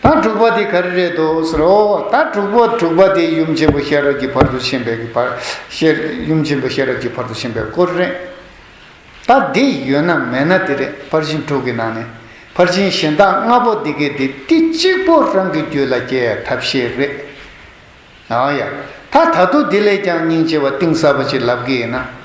ད་དྲུག་པ་དེ་ག་རེ་རེད་དོ་ཟེར་རོ། ད་དྲུག་པོ་དྲུག་པ་དེ་ཡུམ་ཆེན་པོ་ཤེས་རབ་ཀྱི་བར་དུ་ཕྱིན་པའི་བར་ཡུམ་ཆེན་པོ་ཤེས་རབ་ཀྱི་བར་དུ་ཕྱིན་པའི་སྐོར་རེད། ད་འདི་ཡོད་ན་མེད་ན་དེ་རེད་ཕར་ཕྱིན་དྲུག་གི་ནང་ནས་ཕར་ཕྱིན་གཞན་དག་ལྔ་པོ་འདི་གའི་དེ་ཏི་གཅིག་པོ་རང་གི་རྒྱུད་ལ་སྐྱེ་ཡ་ཐབས་ཤེས་རེད། ཡང་ཡང་ད་ད་དུ་དེ་ལས་ཀྱང་སྙིང་རྗེ་བ་གཏིང་ཟབ་པ་ཞིག་ལབ་གི་ཡིན་ན།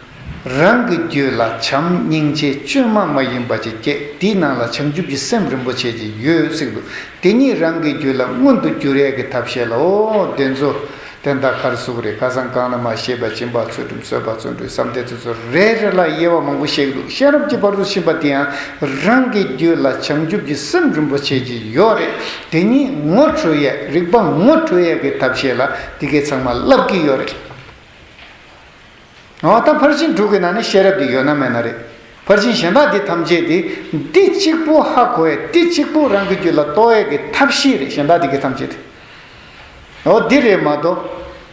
རང་གི་རྒྱུད་ལ་བྱམས་སྙིང་རྗེ་བཅོས་མ་མ་ཡིན་པ་ཅིག་སྐྱེས་དེའི་ནང་ལ་བྱང་ཆུབ་ཀྱི་སེམས་རིན་པོ་ཆེ་ཅིག་ཡོད་སྲིད་འདུག་དེ་ཉིད་རང་གི་རྒྱུད་ལ་མངོན་དུ་འགྱུར་རེས་ཀྱི་ཐབས་ཤེས་ལ་འོ་བདེ་མཛོ་བདེ་མདའ་མཁར་གཟུགས་རེ་ཁ་སང་གང་ན་མ་ཤེས་པ་བྱིན་པ་ཚུལ་ཁྲིམས་བསོད་པ་བརྩོན་འགྲུས་བསམ་གཏན་ཚུལ་ཚོད་རེ་རེ་ལ་དབྱེ་བ་མང་པོ་ཤེས་ཀྱི་འདུག་གཤེན་རབ་ཀྱི་བར་དུ་ཕྱིན་པ་དེ་ཡང་རང་གི་རྒྱུད་ལ་བྱང་ཆུབ་ཀྱི་སེམས་རིན་པོ་ཆེ་ཅིག་ཡོད་རེས་དེ་གཉིས་ངོ་འཕྲོད་ཡས་རིག་པ་ངོ་འཕྲོད་ཡས་ཀྱི་ཐབས་ཤེས་ལ་འདི་གས་ཚང་མ་བསླབ་ཀྱི་ཡོད་རེད། ང་ད་ཕར་ཕྱིན་དྲུག་གི་ནང་ནས་ཤེས་རབ་འདི་ཡོད་ན་མེད་ན་རེད། ཕར་ཕྱིན་གཞན་དག་འདི་ཐམས་ཅད་དེ་འདི་གཅིག་པུ་ཧ་གོ་ཡས་འདི་གཅིག་པུ་རང་གི་རྒྱུད་ལ་གཏོགས་ཡས་ཀྱི་ཐབས་ཤེས་རེད་གཞན་དག་འདི་གས་ཐམས་ཅད་དེ་འོ་འདི་རེད་མ་གཏོགས།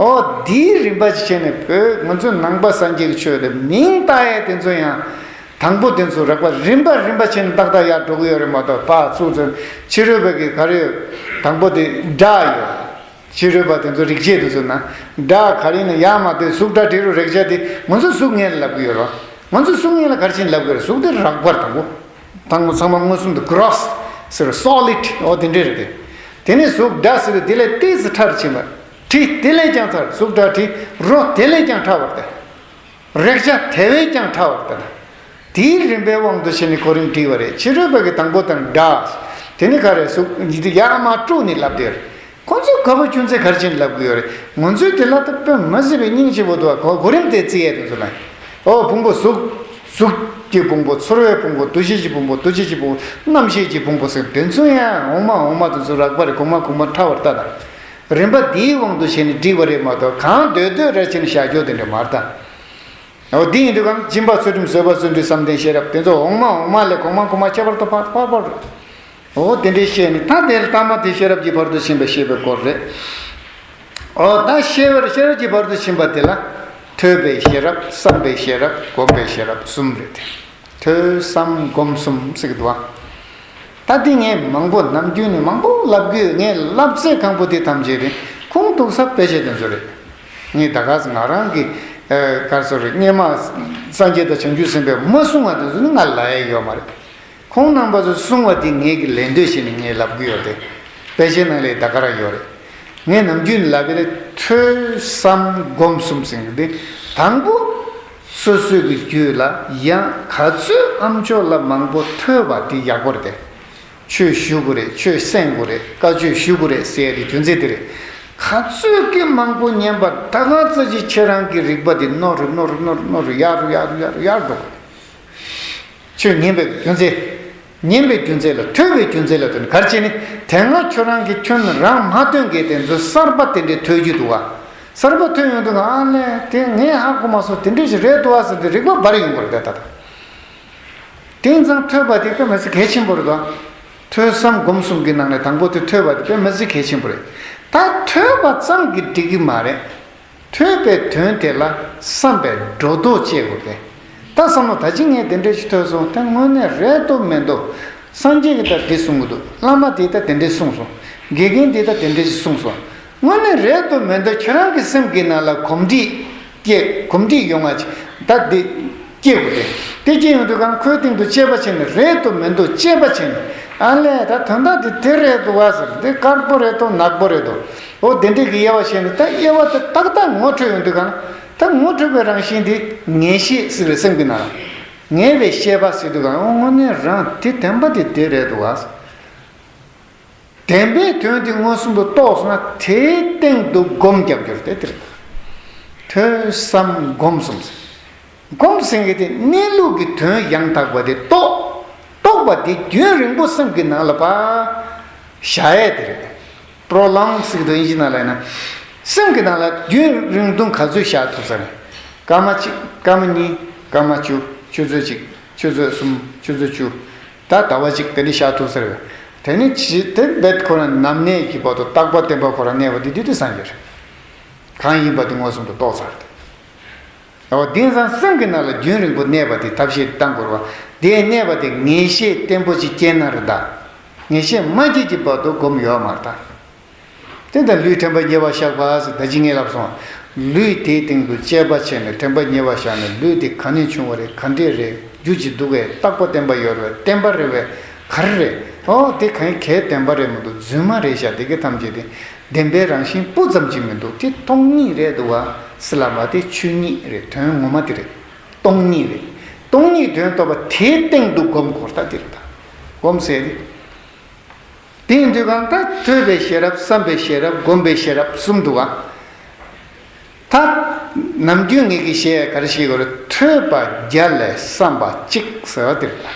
འོ་དེའི་རིམ་པ་ཞིག་བྱས་ནས་བོད་ང་ཚོའི་ནང་པ་སངས་རྒྱས་ཀྱི་ཆོས་དེ་མིང་བཏགས་ཡས་དེ་ཚོ་ཡང་དང་པོ་དེ་ཚོ་རགས་པ་རིམ་པ་རིམ་པ་བྱས་ནས་ཏག་ཏག་ཡར་འགྲོ་གི་ཡོད་རེད་མ་གཏོགས་པ་ཚུགས་ཚུན་ཕྱི་རོལ་བ་གི་གར་ཡོད་དང་པོ་དེ་འདྲ་ཡོད་ཕྱི་རོལ་བ་དེ་ཚོ་རིག་བྱེད་དེ་ཚོ་ན་འདྲ་གར་ཡིན་ན་ཡག་མ་གཏོད་གཟུགས་སྒྲ་དྲི་རོ་རེག་བྱ་དེ་ང་ཚོ་གཟུགས་བརྙན་ལ་ལབ་གི་ཡོད་རོ་ང་ཚོ་གཟུགས་བརྙན་ལ་གར་བྱིན་ལབ་གི་རེད་གཟུགས་དེ་རགས་པར་དང་པོ་དང་པོ་ཚང་མ་མངོན་སུམ་དུ Gross ཟེར་བ Solid འོ་དེ་འདྲ་རེད་དེ་དེ་ནས་གཟུགས་སྒྲ་ཟེར་བའི་དེ་ལས་ལྟེ་ཚེ་ཕྲ་རུ་ཕྱིན་པ། དྲི་དེ་ལས་ཀྱང་ཚར་གཟུགས་སྒྲ་དྲི་རོ་དེ་ལས་ཀྱང་ཕྲ་བར་ལྟ། རེག་བྱ་དེ་བས་ཀྱང་ཕྲ་བར་ལྟ་ན། དེའི་རིམ་པའི་དབང་དུ་བྱས་ནས་གོ་རིམ་བྲིས་པ་རེད་ཕྱི་རོལ་པ་གི་དང་པོ་དང་སྒྲ། དེ་ནི་ག་རེ་གཟུགས། ཡ་མ་དཀྲུགས་ནས་ལབ་བསྡད་རེད། ཁོ་ཚོས་ག་པར་ཅུང་ཟད་གར་བྱས་ནས་ལབ་དགོས་ཡོད་རེད། ངོ་ཚོས་དེ་ལ་ད་དཔོན་མི་ཟེར་བའི་སྙིང་ཆེན་པོ་དུ་བ་གོ་རིམ་དེ་བརྩི་ཡས་དུ་འཛུལ་ན། ཨོ་ཕུང་པོ་གཟུགས། གཟུགས། ཀྱི་ཕུང་པོ་ཚོར་བའི་ཕུང་པོ་འདུ་ཤེས་ཀྱི་ཕུང་པོ་འདུ་བྱེད་ཀྱི་ཕུང་པོ་རྣམ་ཤེས་ཀྱི་ཕུང་པོ་ཟེར་དོན་མཚུངས་ཡ་འོང་མ་འོང་མ་དུ་འཛུལ་རག་པ་རེད་གོང་མ་གོང་མ་ཕྲ་བར་ལྟ་དང། རིམ་པ་འདིའི་དབང་དུ་བྱས་ནས་བསྒྲིགས་པ་རེད་མ་གཏོགས་གང་འདོད་འདོད་ར་བྱས་ནས་བཞག་ཆོག་དེ་འདྲ་མ་རེད་ད། འོ་འདི་ཡིན་དུས་གམ་སྦྱིན་པ་ཚུལ་ཁྲིམས་བཟོད་པ་བརྩོན་འགྲུས་བསམ་གཏན་ཤེས་རབ་དེ་ཚོ་འོག་མ་འོག་མ་ལས་གོང་མ་གོང་མ་ཁྱད་པར་དུ་འཕགས་པ་པོ་རེད། འོ་དེ་འདྲའི་ཤེས་ནི་ད་དེ་ལྟ་མ་དེ་ཤེས་རབ་ཀྱི་བར་དུ་ཕྱིན་པའི་ཤེས་པའི་སྐོར་རེད། འོ་ད་ཤེས་བར་ཤེས་རབ་ཀྱི་བར་དུ་ཕྱིན་པ་དེ་ལ། ཐོས་པའི་ཤེས་རབ་བསམ་པའི་ཤེས་རབ་བསྒོམ་པའི་ཤེས་རབ་གསུམ་རེད་དེ། ཐོས་བསམ་སྒོམ་གསུམ་གསེག་བསྡུ་བ། ད་ལྟའི་ངས་མང་པོ་ནམ་རྒྱུན་ནས་མང་པོ་བསླབ་དགོས་ངས་བསླབ་ཚད་གང་པོ་དེ་ཐམས་ཅད་རིན་གོང་གཏུག་ས་དཔེ་བྱད་དུ་འཛུལ་རེད། ངས་ད་གཟ་ང་རང་གི་གར་སོ་རེད་སྙེ་མ་སངས་རྒྱས་དང་བྱང་ཆུབ་སེམས་དཔའི་མ་གསུང་བ་དེ་ཚོ་ནི་ང་ལ་ལའེ་ཡོད་མ་རེད། ཁོང་རྣམ་པ་ཚོས་གསུང་བ་དེ་ངས་ཀྱི་ལེན་འདོད་བྱེད་ནས་ངས་བསླབ་དགོས་ཡོད་རེད། དཔེ་བྱད་ནང་ལའི་ད་ག་ར་ཡོད་རེད། ངས་ནམ་རྒྱུན་ནས་བསླབ་པའི་ཐོས་བསམ་སྒོམ་གསུམ་གསེག་འདི་དང་པོ། སོ་སོས་ཀྱི་རྒྱུད་ལ་ཡང་ག་ཚོད་ཨ་མཆོག་ལ་མང་པོ་ཐོས་པ་དེ་ཡག་པོ་རེད་དེ། ཆོས་ཞུ་དགོས་རེད་ཆོས་གསན་དགོས་རེད་བཀའ་ཆོས་ཞུ་དགོས་རེད་ཟེར་ཡ་དེ་རྒྱུ་མཚན་དེ་རེད། ག་ཚོད་ཀྱི་མང་པོ་ཉན་པར་ད་གང་ཚ་ཅི་ཁྱེད་རང་གི་རིག་པ་དེ་རྣོ་རུ་རྣོ་རུ་རྣོ་རུ་རྣོ་རུ་ཡར་རུ་ཡར་རུ་ཡར་རུ་ཡར་འགྲོ་དགོས་རེད། ཆོས་ཉན་པའི་རྒྱུ་མཚན། ཉན་པའི་རྒྱུ་མཚན་ལ་ཐོས་པའི་རྒྱུ་མཚན་ལ་དོན་གར་བྱས་ནས་དེ་སྔ་ཁྱོད་རང་གིས་ཁྱོད་རང་མ་ཐོས་འགའི་དེ་ཚོའི་གསར་པ་དེ་འདྲའི་ཐོས་རྒྱུ་འདུག་ཨ། གསར་པ་ཐོས་ཡོང་དུས་ང་ཨ་ལེ་དེ་ངས་ཧ་གོ་མ་སོང་དེ་འདྲ་ཞིག་རེད་འདུག་ཨ་ཟེར་དུས་རིག་པ་འབར་ཡོང་གི་རེད་ད། དེང་སང་ཐོས་པ་དེ་དཔེ་མི་སྲིད་གལ་ཆེན་པོ་རེད་དོ། ཐོས་བསམ་སྒོམ་གསུམ་གྱི་ནང་ནས་དང་པོ་དེ་ཐོས་པ་དེ་དཔེ་མི་སྲིད་གལ་ཆེན་པོ་རེད། ད་ཐོས་པ་ཙམ་གྱིས་འགྲིག་གི་མ་རེད། ཐོས་པའི་དོན་དེ་ལ་བསམ་པས་སྒྲོ་འདོགས་བཅད་དགོས་པས། ད་བསམ་མོ་ད་ཅི་ངས་དེ་འདྲའི་ཅི་ཐོས་སོང་དེ་དངོས་གནས་རེད་དོ་མེད་དོ། སངས་རྒྱས་ཀྱིས་ད་འདི་གསུང་གི་འདུག་བླ་མ་དེས་ད་དེ་འདྲའི་གསུངས་སོང། དགེ་རྒན་དེས་ད་དེ་འདྲའི་ཅི་གསུངས་སོང། དངོས་གནས་རེད་དོ་མེད་དོ་ཁྱེད་རང་གི་སེམས་ཀྱི་ནང་ལ་གོམས་འདྲིས་སྐྱེ་གོམས་འདྲིས་ཡོང་ང་ཅི་ད་འདི། སྐྱེས་བུ་རེད། དེ་སྐྱེས་ཡོང་དུས་ཁང་ཁོའི་སྟེང་དུ་ཅེས་པ་བྱས་ནས་རེད་དུ་མི་འདུག་ཅེས་པ་བྱས་ནས། ཨ་ལས་ད་དོན་དག་འདི་དེ་རེད་དུ་བ་ཟེར་འདི་དཀར་པོ་རེད་དོ་ནག་པོ་རེད་དོ། འོ་དེ་འདྲས་ཀྱི་དབྱེ་བ་བྱས་ནས་ད་དབྱེ་བ་དེ་ཏག་ཏག་ངོ་འཕྲོད་ཡོང་དུས་ཁང་ད་ངོ་འཕྲོད་པའི་རང་བཞིན་འདི་ངེས་ཤེས་ཟེར་བའི་སེམས་ཀྱི་ནང། ངེས་པའི་ཤེས་པ་ཟེར་དུས་ཁང་དངོས་གནས་རང་དེ་དེ་འབའ་དེ་དེ་རེད་དུ་བ། བདེན་པའི་དོན་དེ་མངོན་སུམ་དུ་རྟོགས་ན་དེའི་སྟེང་དུ་སྒོམ་རྒྱབ་སྐྱོར་ཏེ་འདིར་ཐོས་བསམ་སྒོམ་གསུམ་ཟེར། སྒོམ་གསུམ་གྱི་དེ་གནས་ལུགས་ཀྱི་དོན་ཡང་དག་པ་དེ་རྟོགས། རྟོགས་པ་དེ་རྒྱུན་རིང་པོ་སེམས་ཀྱི་ནང་ལ་བ་ཞྭ་ཡས་དེ་རེད། Prolonged Sigdoinjina ལ་ཡིན་ན། སེམས་ཀྱི་ནང་ལ་རྒྱུན་རིང་དུང་ག་ཚོད་བཞག་ཐུབ་ས་རེད། སྐར་མ་གཅིག་སྐར་མ་གཉིས་སྐར་མ་བཅུ་ཆུ་ཚོད་གཅིག་ཆུ་ཚོད་གསུམ་ཆུ་ཚོད་བཅུ། ད་ལྟ་བ་ཅིག་དེ་ནི་ཤ་ཐུག་ཟེར། དེ་ནི་ཇི་སྟེ་འབེད་ཁོ་རང་ནམ་གནས་ཀྱི་བར་དུ་རྟག་པར་བསྟན་པ་ཁོ་རང་གནས་པ་དེ་དུས་དེ་སངས་རྒྱས་རེད། གང་ཡིན་པ་དེ་མངོན་སུམ་དུ་རྟོགས་ཚར་ཏེ། ད་བར་དེང་སང་སེམས་ཀྱི་ནང་ལ་རྒྱུན་རིང་པོ་གནས་པ་དེ་ཐབས་ཤེས་ལྟ་འགོར་བ། དེ་གནས་པ་དེ་ངེས་ཤེས་བརྟན་པོ་ཅིག་སྐྱེས་ན་རི་དྭགས། ངེས་ཤེས་མ་སྐྱེས་ཀྱི་བར་དུ་སྒོམ་ཡོག་མར་ལྟ། དེ་དང་ལུས་དྲན་པ་ཉེ་བར་བཞག་པ་ཟེར་བདག་ཇི་སྙེད་བསླབས་སོ། ལུས་དེའི་སྟེང་དུ་དཔྱད་པ་བྱས་ནས་དྲན་པ་ཉེ་བར་བཞག་ནས་ལུས་དེ་གང་ནས་བྱུང་བ་རེད་གང་འདྲས་རེད་རྒྱུ་ཇི་འདུག་བས་རྟག་པ་བསྟན་པ་ཡོད་རེད་བསྟན་པ་རེད་བས་ག་རེ་རེད་ཨོ་དེ་གང་གཱའི་བསྟན་པ་རེད་མི་འདུག་རྫུན་མ་རེད་ཤག་དེ་ག་ཐམས་ཅད་དེ་བདེན་པའི་རང་བཞིན་སྤུ་ཙམ་གྱིས་མི་འདུག་དེ་སྟོང་ཉིད་རེད་འདུག་བ་སི་ལ་མ་དེ་ཆོས་ཉིད་རེད་དོན་ངོ་མ་དེ་རེད་སྟོང་ཉིད་རེད་སྟོང་ཉིད་དོན་རྟོགས་པ་དེའི་སྟེང་དུ་སྒོམ་གོ་ལྟ་དེ་རེད་ད་སྒོམ་ཟེར། དེའི་མདོའི་གང་དག་ཐོས་པའི་ཤེས་རབ་བསམ་པའི་ཤེས་རབ་བསྒོམ་པའི་ཤེས་རབ་གསུམ་དུའོ། ད་ནམ་རྒྱུན་ངེད་ཀྱིས་ཞེས་ག་རེ་ཞིག་གོ་རེ་ཐོས་པ་བརྒྱ་ལས་བསམ་པ་གཅིག་ཟེར་བ་དེ་རེད་ལ།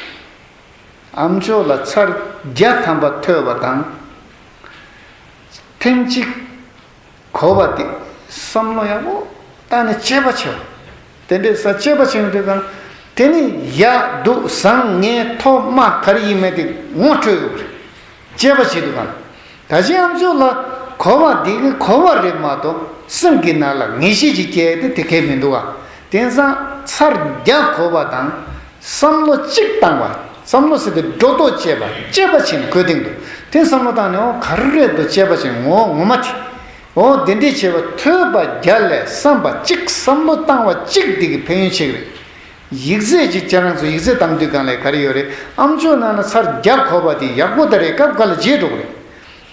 ཨམ་ཅོག་ལ་ཚར་བརྒྱ་ཐམ་པ་ཐོས་པ་དང། ཐེངས་གཅིག་གོ་བ་སྟེ། བསམ་བློ་ཡང་མོ་རྟགས་ནི་སྤྱད་པ་ཆེ་བ། དེ་འདྲའི་ས་སྤྱད་པ་ཆེ་བའི་འབྲས་དང། དེ་ནི་ཡག་སྡུག་བཟང་ངན་མཐོ་དམའ་གར་ཡིན་མེད་དེ་ངོ་སྤྲོད་ཡོད་པ་རེད། སྤྱད་པ་བྱེད་དགོས་པ། ད་ཅི་ཨམ་ཆོས་ལ་གོ་བ་འདི་གི་གོ་བ་རེད་མ་གཏོགས་སེམས་ཀྱི་ནང་ལ་ངེས་ཤེས་ཀྱི་སྐྱེས་ཏེ་དེ་གས་མི་འདུག་ག། དེང་སང་ཚར་རྒྱག་གོ་བ་དང། བསམ་བློ་གཅིག་བཏང་བ། བསམ་བློ་ཟེར་ཏེ་སྒྲོ་འདོགས་བཅད་པ་དཔྱད་པ་བྱས་ནས་གོས་སྟེང་དུ་འཐེན་བསམ་བློ་བཏང་ནས་འོང་གར་རེད་དོ་དཔྱད་པ་བྱས་ངོ་ངོ་མ་དེ། འོ་དེ་འདྲས་བྱས་པ་ཐོས་པ་བརྒྱ་ལས་བསམ་པ་གཅིག་བསམ་བློ་བཏང་བ་གཅིག་འདི་གི་ཕན་ཡོན་ཆེ་གི་རེད། ཡིག་རྩད་ཅིག་ཁྱེད་རང་ཚོ་ཡིག་རྩད་བཏང་དུས་གང་ལས་ག་རེ་ཡོད་རེད་ཨ་མཆོག་ནང་ན་ཚར་བརྒྱ་གོ་བ་དེ་ཡག་པོ་ད་རེད་སྐབས་འགའ་ལ་བརྗེད་འགྲོ་གི་རེད་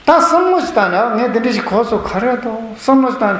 ད་བསམ་བློ་ཅིག་བཏང་ནས་ཨ་ངས་དེ་འདྲས་ཞིག་གོ་སོང་ག་རེད་དོ་བསམ་བློ་ཅིག་བཏང་ནས།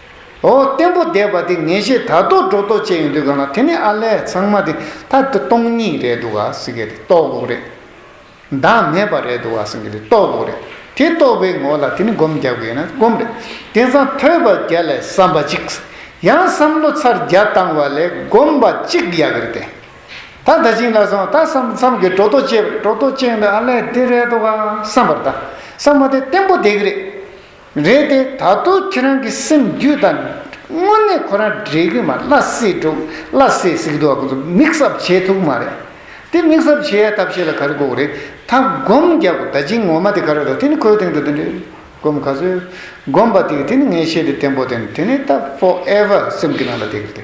འོ་བརྟན་པོ་བསྡད་པ་དེ་ངེས་ཤེས་དར་ཐོག་སྒྲོ་ཐོག་བཅས་ཡོང་དུས་གང་ལ་དེ་ནི་ཨ་ལས་ཚང་མ་དེ་ད་ལྟ་སྟོང་ཉིད་རེད་འདུག་ག་སེང་གེ་དེ་རྟོགས་དགོས་རེད། བདག་མེད་པ་རེད་འདུག་ག་སེང་གེ་དེ་རྟོགས་དགོས་རེད། དེ་རྟོགས་པའི་ངོ་ལ་དེ་ནི་སྒོམ་རྒྱག་དགོས་ཡིན་ན་སྒོམ་རེད། དེང་སང་ཐོས་པ་བརྒྱ་ལས་བསམ་པ་གཅིག། ཡང་བསམ་བློ་ཚར་བརྒྱ་བཏང་བ་ལས་སྒོམ་པ་གཅིག་ཡག་རེད་དེ། ད་ད་ཅིང་ལ་སོང་ད་བསམ་བསམ་གྱིས་སྒྲོ་ཐོག་བཅས་པ་རེད་སྒྲོ་ཐོག་བཅས་ཡོང་དུས་ཨ་ལས་དེ་རེད་འདུག་ག་བསམ་པར་ད་བསམ་བ་དེ་བརྟན་པོ་བསྡད་ཀྱི་རེད། རེད་དེ་ད་དུང་ཁྱེད་རང་གི་སེམས་རྒྱུད་དང། དངོས་གནས་ཁོ་རང་འདྲེ་རྒྱུ་མ་བླ་སེ་འདྲུག་བླ་སེ་གཟིགས་འདུག་ག་ཚོད་མིག་གཟབ་བྱེད་ཐུག་མ་རེད། དེ་མིག་གཟབ་བྱེད་ཡ་ཐབས་ཤེས་ལ་ག་རེ་དགོས་རེད་ད་སྒོམ་རྒྱབ་གོ་ད་ཅིང་ངོ་མ་དེ་ག་རེ་རོ་དེ་ནི་ཁོའི་སྟེང་དུ་དེ་འདྲེ་སྒོམ་ག་ཚོད་སྒོམ་པ་དེ་དེ་ནི་ངའི་ཤེས་དེ་བརྟན་པོ་དེ་ནི་དེ་ནི་ད for ever སེམས་ཀྱི་ནང་ལ་དེ་གི་དེ།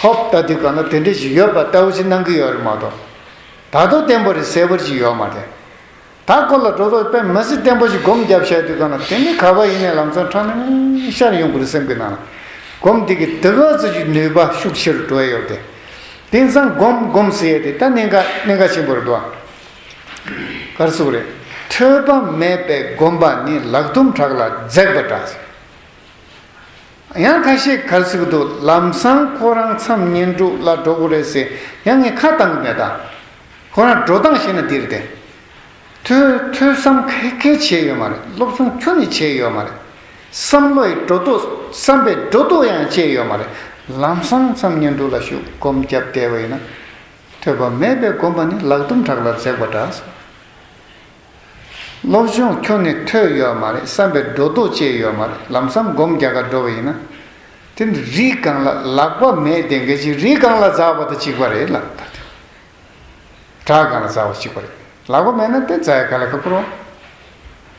ཧཱུྃ་ལྟ་དུས་གང་ན་དེ་འདྲ་ཞིག་ཡོད་པ་ལྟ་བུ་ཞིག་གནང་གི་ཡོད་རེད་མ་གཏོགས། ད་དུང་བརྟན་པོ་རེད་ཟེར་བར་ཞིག་ཡོད་མ་རེད། ད་ཁོ་ལ་འགྲོ་ལོག་པས་མི་སྲིད་བརྟན་པོ་ཞིག་སྒོམ་རྒྱབ་བཤད་དུས་གང་ན་དེ་ནི་ག་པ་ཡིན་ནའི་ལམ་སང་ཁྲ་མིང་མིང་ཤར་ཡོང་དགོས་སེམས་ཀྱི་ནང་ལ་སྒོམ་དེ་གི་དེ་ག་ཚོད་ཀྱི་ནུས་པ་ཤུགས་ཆེ་རུ་འགྲོ་ཡི་ཡོད་དེ། དེང་སང་སྒོམ་སྒོམ་ཟེར་ཡས་དེ་ད་གནད་འགའ་གནད་འགའ་ཆེན་པོ་རེད་འདུག་ཨ། གར་སོགས་རེད། ཐོས་པ་མེད་པའི་སྒོམ་པ་ནི་ལག་ཐུམ་བྲག་ལ་འཛེགས་པ་འདྲ། ཡང་ཁ་ཤས་གར་ཟིག་གི་འདུག་ལམ་སང་ཁོ་རང་མཚམས་བསྙེན་དྲུག་ལ་འགྲོ་དགོས་རེད་ཟེར་ཡང་ངས་ཁ་བཏང་གི་མེད། ཁོ་རང་འགྲོ་སྟངས་ཤེས་ན་འདིར་བསྡད། ཐོས་ཐོས་བསམ་ཁེ་ཁེ་བྱས་ཡོད་མ་རེད་སློབ་སྦྱོང་ཁྱོན་ནས་བྱས་ཡོད་མ་རེད། བསམ་བློ་ཡི་འགྲོ་ལྡོག་བསམ་པའི་འགྲོ་ལྡོག་ཡང་བཅད་ཡོད་མ་རེད་ལམ་སང་མཚམས་བསྙེན་དྲུག་ལ་ཞུགས་སྒོམ་བརྒྱབ་བསྡད་པ་ཡིན་ན། ཐོས་པ་མེད་པའི་སྒོམ་པ་ནི་ལག་ཟླུམ་བྲག་ལ་འཛེགས་པ་འདྲ། སློབ་སྦྱོང་ཁྱོན་ནས་ཐོས་ཡོད་མ་རེད་བསམ་པའི་སྒྲོ་འདོགས་བཅད་ཡོད་མ་རེད་ལམ་སང་སྒོམ་རྒྱག་ག་འགྲོ་བ་ཡིན་ན། དེ་ནི་རིགས་གང་ལ་ལག་པ་མེད་དེ་འགལ་ཅིག་རིགས་གང་ལ་འཛའ་བ་དང་གཅིག་པ་རེད་ལ། དགྲ་གང་ལ་འཛའ་བ་གཅིག་པ་རེད་ལག་པ་མེད་ན་དེ་འཛའ་ཡི་ག་ལེ་ཁ་ཁུར་བ།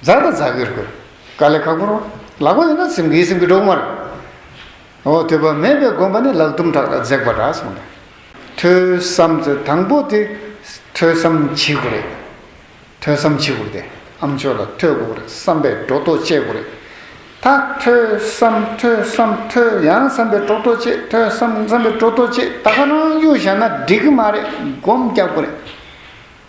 འཛའ་དང་འཛའ་གིར་དགོས་ག་ལེ་ཁ་ཁུར་བ་ལག་པ་ཡོད་ན་སེམས་ཀྱི་སེམས་ཀྱི་འགྲོ་གི་མ་རེད། འོ་དེ་བ་མེད་པའི་སྒོམ་པ་ནི་ལག་ཐུམ་ཕྲག་ལ་འཛེག་པ་འདྲ་སོང་ནས་ཐོས་བསམ་ཚོད་དང་པོ་དེ་ཐོས་བསམ་བྱེད་དགོས་རེད། ཐོས་བསམ་བྱེད་དགོས་ཏེ་ཨ་མཆོག་ལ་ཐོས་དགོས་རེད་བསམ་པའི་སྒྲོ་འདོགས་བཅད་དགོས་རེད། ད་ཐོས་བསམ་ཐོས་བསམ་ཐོས་ཡང་བསམ་པའི་སྒྲོ་འདོགས་བཅད་ཐོས་བསམ་བསམ་པའི་སྒྲོ་འདོགས་བཅད་ད་ག་རང་གཡོ་བཞག་ན་འགྲིག་གི་མ་རེད་སྒོམ་རྒྱག་དགོས་རེད།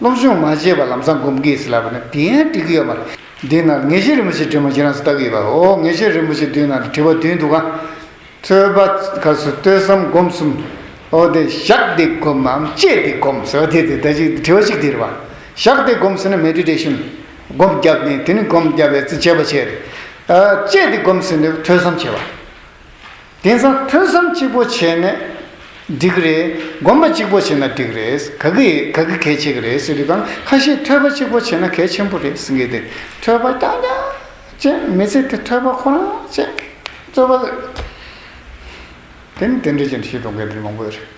སློབ་སྦྱོང་མ་བྱས་པར་ལམ་སང་སྒོམ་གི་ཡོད་ཟེར་ལབ་པ་ནི་དེ་ཡང་འགྲིག་གི་ཡོད་མ་རེད། འདི་ན་ངེས་ཤེས་རིན་པོ་ཆེ་སྒྲོལ་མ་ཁྱེད་རང་ཚོ་ལྟ་གི་ཡོད་པ་ཨོ་ངེས་ཤེས་རིན་པོ་ཆེ་མདུན་ན་དྲི་བ་བདུན་འདུག་ག། རྩོད་པ་ག་སུ་ལྟོས་བསམ་སྒོམ་གསུམ། ཨོ་དེ་བཞག་སྟེ་སྒོམ་འམ་སྤྱད་དེ་སྒོམ་ཟེར་བ་དེ་དེ་ལྟ་ཅིག་དྲི་བ་གཅིག་དེ་རེད་པ། བཞག་སྟེ་སྒོམ་ཟེར་ན་མེ་དྲོད་དྲས་ཤིང། སྒོམ་བརྒྱབ་ནས་དེ་ནི་སྒོམ་བརྒྱབ་པའི་ཚེ་སྤྱད་པ་བྱས། སྤྱད་དེ་སྒོམ་ཟེར་ནི་ཐོས་བསམ་བྱས་པ། དེང་སང་ཐོས་བསམ་གཅིག་པོ་བྱས་ནས་འགྲིག་གི་རེད། སྒོམ་པ་གཅིག་པོ་བྱས་ན་འགྲིག་གི་རེད། ག་གི་ག་གི་གལ་ཆེ་གི་རེད་ཟེར་དུས་དང་ཁ་ཤས་ཐོས་པ་གཅིག་པོ་བྱས་ན་གལ་ཆེན་པོ་རེད་ཟེར་གི་འདུག་ཐོས་པ་རྐྱང་རྐྱང་ཅན་མི་ཚེ་དེ་ཐོས་པ་ཁོ་རང་བཅས་རྩོད་པ། དེ་ནི་དེ་འདྲ་ཅན་ཞིག་འགྲོ་མཁན་རིགས་མང་པོ་ཡོད་རེད།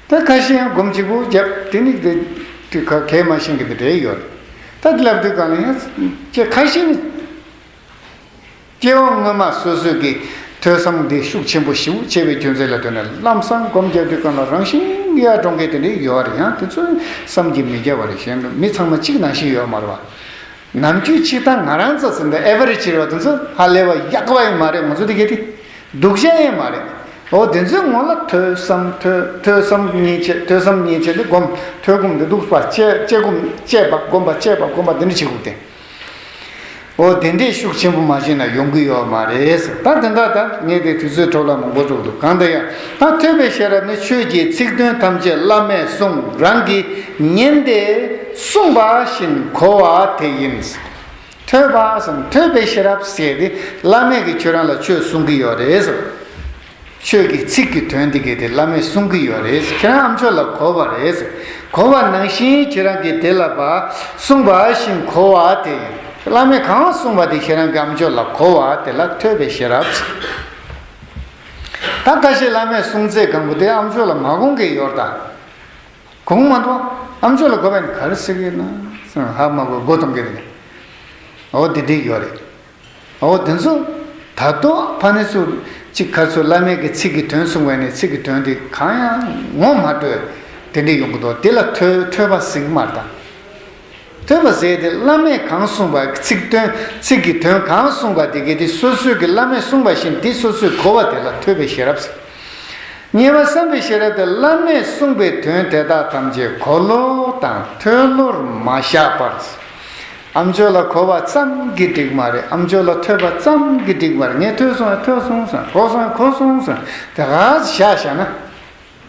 ད་ཁ་ཤས་ཡང་སྒོམ་གཅིག་པོ་བརྒྱབ་དེ་ནི་དེ་དུས་ཁ་གལ་མ་ཤེས་གི་འདུག་རེད་ཡོད་རེད། ད་དེ་ལབ་དུས་གང་ལ་ཡང་ཁ་ཤས་ནི། སྐྱེ་བ་སྔོན་མ་སོ་སོའི་གི་ཐོས་བསམ་འདི་ཤུགས་ཆེན་པོ་ཞིབ་ཆེ་བའི་རྒྱུ་མཚན་ལ་ལྟོས་ན་ལམ་བསམ་སྒོམ་རྒྱབ་ཀྱི་སྐབས་ན་རང་བཞིན་གཡའ་གྲོང་ཁྱེར་དེ་འདྲའི་ཡོད་ཨ་རེ་ཡང་དེ་ཚོའི་བསམ་གྱིས་མི་རྒྱ་བ་རེ་གཞན་ནུ་མི་ཚང་མ་གཅིག་ནང་བཞིན་ཡོད་མ་རེད་བ། ནམ་རྒྱུན་གཅིག་ཐང་ང་རང་ཚོ་ཟིན་པའི་ཨེ་བ་རེ་བྱེད་རོགས་དེ་ཚོ་ཧ་ལས་བ་ཡག་བ་ཡིན་མ་རེད་ང་ཚོ་དེ་གས་དེ་སྡུག་ཅན་ཡིན་མ་རེད་འོ་དེ་ཚོའི་ངོ་ལ་ཐོས་བསམ་ཐོས་ཐོས་བསམ་གཉིས་བྱེད་ཐོས་བསམ་གཉིས་བྱེད་དེ་སྒོམ་ཐོས་སྒོམ་དེ་སྡུག་བ་སྤྱད་སྤྱད་སྒོམ་སྤྱད་བ་སྒོམ་བ་སྤྱད་བ་སྒོམ་བ་དེ་འདྲ་བྱེད་དགོས་དེ། འོ་དེ་འདྲའི་ཤུགས་ཆེན་པོ་མ་བྱས་ན་ཡོང་གི་ཡོད་མ་རེད། ད་དེ་འདྲ་ད་ངས་དེ་དུས་ཚོད་འཕྲོ་བརླག་མང་པོ་བསྒྲུབས་འདུག་གང་དུ་ཡང་ད་ཐོས་པའི་ཤེས་རབ་ནི་ཆོས་ཀྱི་ཚིག་དོན་ཐམས་ཅད་བླ་མས་གསུང་རང་གིས་ཉན་ཏེ་གསུངས་པ་བཞིན་གོ་བ་དེ་ཡིན། ཐོས་པ་སམ་ཐོས་པའི་ཤེས་རབ་ཟེར་ཏེ་བླ་མས་གིས་ཁྱོད་རང་ལ་ཆོས་གསུང་གི་ཡོད་རེད། ཁྱོད་ཀྱི་ཚིག་གི་དོན་འདི་གས་དེ་བླ་མས་གསུང་གི་ཡོད་རེད་ཁྱེད་རང་ཨམ་ཆོས་ལ་གོ་བ་རེད། གོ་བ་ནང་བཞིན་ཁྱེད་རང་གིས་དེ་ལ་བ་གསུངས་པ་བཞིན་གོ་བ་དེ་ཡིན། བླ་མས་གང་གསུངས་པ་དེ་ཁྱེད་རང་གིས་ཨམ་ཆོས་ལ་གོ་བ་དེ་ལ་ཐོས་པའི་ཤེས་རབ་ཚིག་ད་ཁ་ཤས་བླ་མས་གསུངས་ཚད་གང་པོ་དེ་ཨམ་ཆོས་ལ་མ་གོང་གི་ཡོར་ད་གོང་མ་འགྲོ་ཨམ་ཆོས་ལ་གོ་བ་ནི་ག་རེ་ཟེར་གི་ཡོད་ན། ཧ་མ་གོ་གོ་གཏོང་གི་རེད། འོ་དེ་འདི་ཡོད་རེད། འོ་དེ་ཚོ། ད་དུང་ཕ་ནི་སུ། ཅིག་ཁ་སུ་བླ་མེད་ཀྱི་ཚིག་གི་དོན་གསུང་བས་ནི་ཚིག་གི་དོན་དེ་གང་ཡང་ངོ་མ་སྤྲོད། དེ་འདྲས་ཡོང་གི་འདུག་དེ་ལ་ཐོས་པ་ཟིག་སྨྲ་དང། ཐོས་པ་ཟེར་དེ་བླ་མེད་གང་གསུང་བ་ཚིག་དོན་ཚིག་གི་དོན་གང་གསུང་བ་དེ་གས་དེ་སོ་སོས་ཀྱི་བླ་མེད་གསུང་བ་བཞིན་དེ་སོ་སོས་གོ་བ་དེ་ལ་ཐོས་པའི་ཤེས་རབ་ཟེར། ཉེ་བར་བསམ་པའི་ཤེས་རབ་དེ་བླ་མེད་གསུང་བའི་དོན་དེ་དག་ཐམས་ཅད་གོ་བློ་དང་ཐོས་བློར་མ་བཞག་པར། ཨམ་ཆོས་ལ་གོ་བ་ཙམ་གྱིས་འགྲིག་མ་རེད་ཨམ་ཆོས་ལ་ཐོས་པ་ཙམ་གྱིས་འགྲིག་མ་རེད་ངས་ཐོས་སོང་ཡ་ཐོས་སོང་ཟེར་གོ་སོང་ཡ་གོ་སོང་ཟེར་དེ་ག་བཞག་བཞག་ན་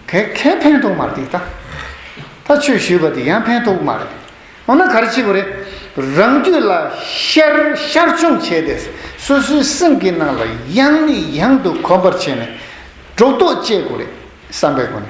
ག་གས་ཕན་ཐོགས་མ་རེད་འདི་ད་ད་ཆོས་ཞུས་པ་འདི་ཡང་ཕན་ཐོགས་མ་རེད་འོ་ན་ག་རེ་བྱེད་དགོས་རེད་རང་རྒྱུད་ལ་ཤར་ཤར་བྱུང་བྱས་ཏེ་སོ་སོའི་སེམས་ཀྱི་ནང་ལ་ཡང་ནས་ཡང་དུ་གོམས་པར་བྱས་ནས་སྒྲོ་འདོགས་བཅད་དགོས་རེད་བསམ་པའི་སྒོ་ནས་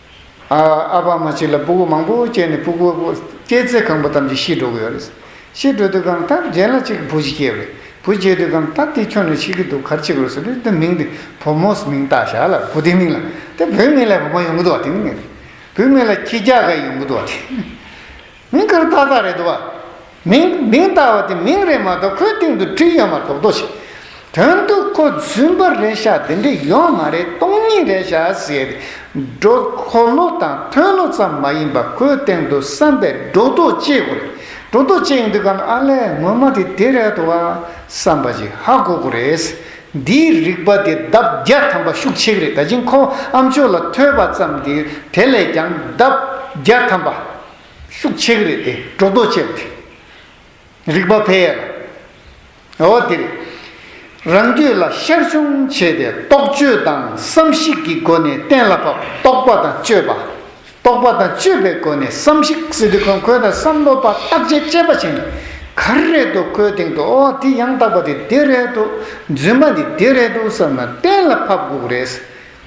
ཨ་ཕ་མ་གཅིག་ལ་སྤུ་གུ་མང་པོ་སྐྱེས་ནས་སྤུ་གུ་སྐྱེས་ཚེ་གང་པོ་ཐམས་ཅད་ཤི་འགྲོ་གི་ཡོད་རེད། ཤི་འགྲོ་དུས་གང་ལྟར་རྒན་ལ་གཅིག་གི་བུ་ཞིག་སྐྱེས་རེད། བུ་སྐྱེས་དུས་གང་ལྟར་དེ་ཁྱོད་ནས་ཤི་གི་འདུག་གར་ཆིག་རོ་ཟེར་རེད་དེ་མིང་དེ་བུ་མོས་མིང་བཏགས་བཞག་ལ་བུ་དེའི་མིང་ལ་དེ་བུའི་མིང་ལས་བུ་མོ་ཡོང་གི་འདུག་བ་དེ་མིན་གི་རེད། བུའི་མིང་ལ་ཁྱི་རྒྱག་ག་ཡོང་གི་འདུག་བ་དེ། མིང་གར་སྟག་སྟག་རེད་འདུག་བ། མིང། མིང་སྟག་བ་དེ་མིང་རེད་མ་གཏོགས་ཁོའི་སྟེང་དུ་བྲིས་ཡོད་མ་གཏོགས་དོ་ཞེས། དོན་དུ་ཁོ་རྫུན་པ་རེད་ཤག་དེ་འདྲས་ཡོད་མ་རེད་སྟོང་ཉིད་རེད་ཤག་ཟེར་ཏེ། འགྲོ་ཁོ་ལོ་དང་ཐོན་ལོ་ཙམ་མ་ཡིན་པར་ཁོའི་སྟེང་དུ་བསམ་པའི་སྒྲོ་འདོགས་བཅད་དགོས་རེད། སྒྲོ་འདོགས་བཅད་ཡོང་དུས་ཀ་ན་ཨ་ལས་ངོ་མ་དེ་དེ་རེད་དོ་བ། བསམ་པ་ཞིག་ཧ་གོ་གོ་རེད། འདིའི་རིག་པ་དེ་ལྡབ་བརྒྱ་ཐམ་པ་ཤུགས་ཆེ་གི་རེད་ད་ཕྱིན་ཁོ་ཨ་མཆོག་ལ་ཐོས་པ་ཙམ་གྱིས་དེ་ལས་ཀྱང་ལྡབ་བརྒྱ་ཐམ་པ། ཤུགས་ཆེ་གི་རེད་དེ་སྒྲོ་འདོགས་བཅད་དེ། རིག་པ་འཕེལ་ཡས་ལ། འོ་དེ་རེད། རང་རྒྱུད་ལ་ཤར་བྱུང་བྱས་ཏེ་རྟོག་དཔྱོད་དང་བསམ་གཞིག་གི་སྒོ་ནས་གཏན་ལ་ཕབ་རྟོག་པ་དང་དཔྱོད་པ། རྟོག་པ་དང་དཔྱོད་པའི་སྒོ་ནས་བསམ་གཞིག་སི་ཏུ་ཁོན་ཁོན་དང་བསམ་བློ་པ་བརྟག་དཔྱད་དཔྱད་པ་བྱས་ནས་ག་རེ་རེད་འདུག་ཁོའི་སྟེང་དུ་འོ་དེ་ཡང་དག་པ་དེ་འདི་རེད་འདུག་རྫུན་མ་འདི་འདི་རེད་འདུག་བསམ་ན་གཏན་ལ་ཕབ་དགོས་རེད།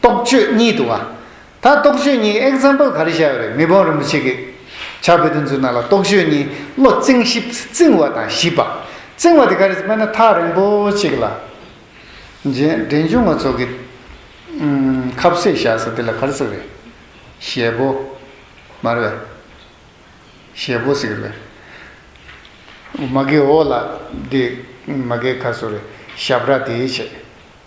རྟོག་དཔྱོད་གཉིས་འདུག་ཨ། ད་རྟོག་དཔྱོད་གཉིས example ག་རེ་བཞག་ཡོད་རེད་མི་བོང་རིན་པོ་ཆེ་གིས། བྱ་བེ་དོན་ཚུལ་ནང་ལ་རྟོག་དཔྱོད་གཉིས་བློ་རྩིང་གཤིབ་རྩིང་བ་དང་གཤིབ་པ། རྩིང་བ་དེ་ག་རེད་སྨན་ན་ཐག་རིང་པོ་གཅིག་ལ། རྗེས་འབྲེལ་འཇུག་ངོ་ཚོགས་ཀྱི། ཁབ་བསྲེས་བཞག་ས་དེ་ལ་ག་རེ་ཟེར་རེད། ཞལ་བོ། མ་རེད་བས། ཞལ་བོ་ཟེར་གི་རེད་བས། མ་གའི་འོག་ལ་དེ། མ་གའི་ཁ་སོ་རེད། ཞབས་ར་དེའི་ཆེད།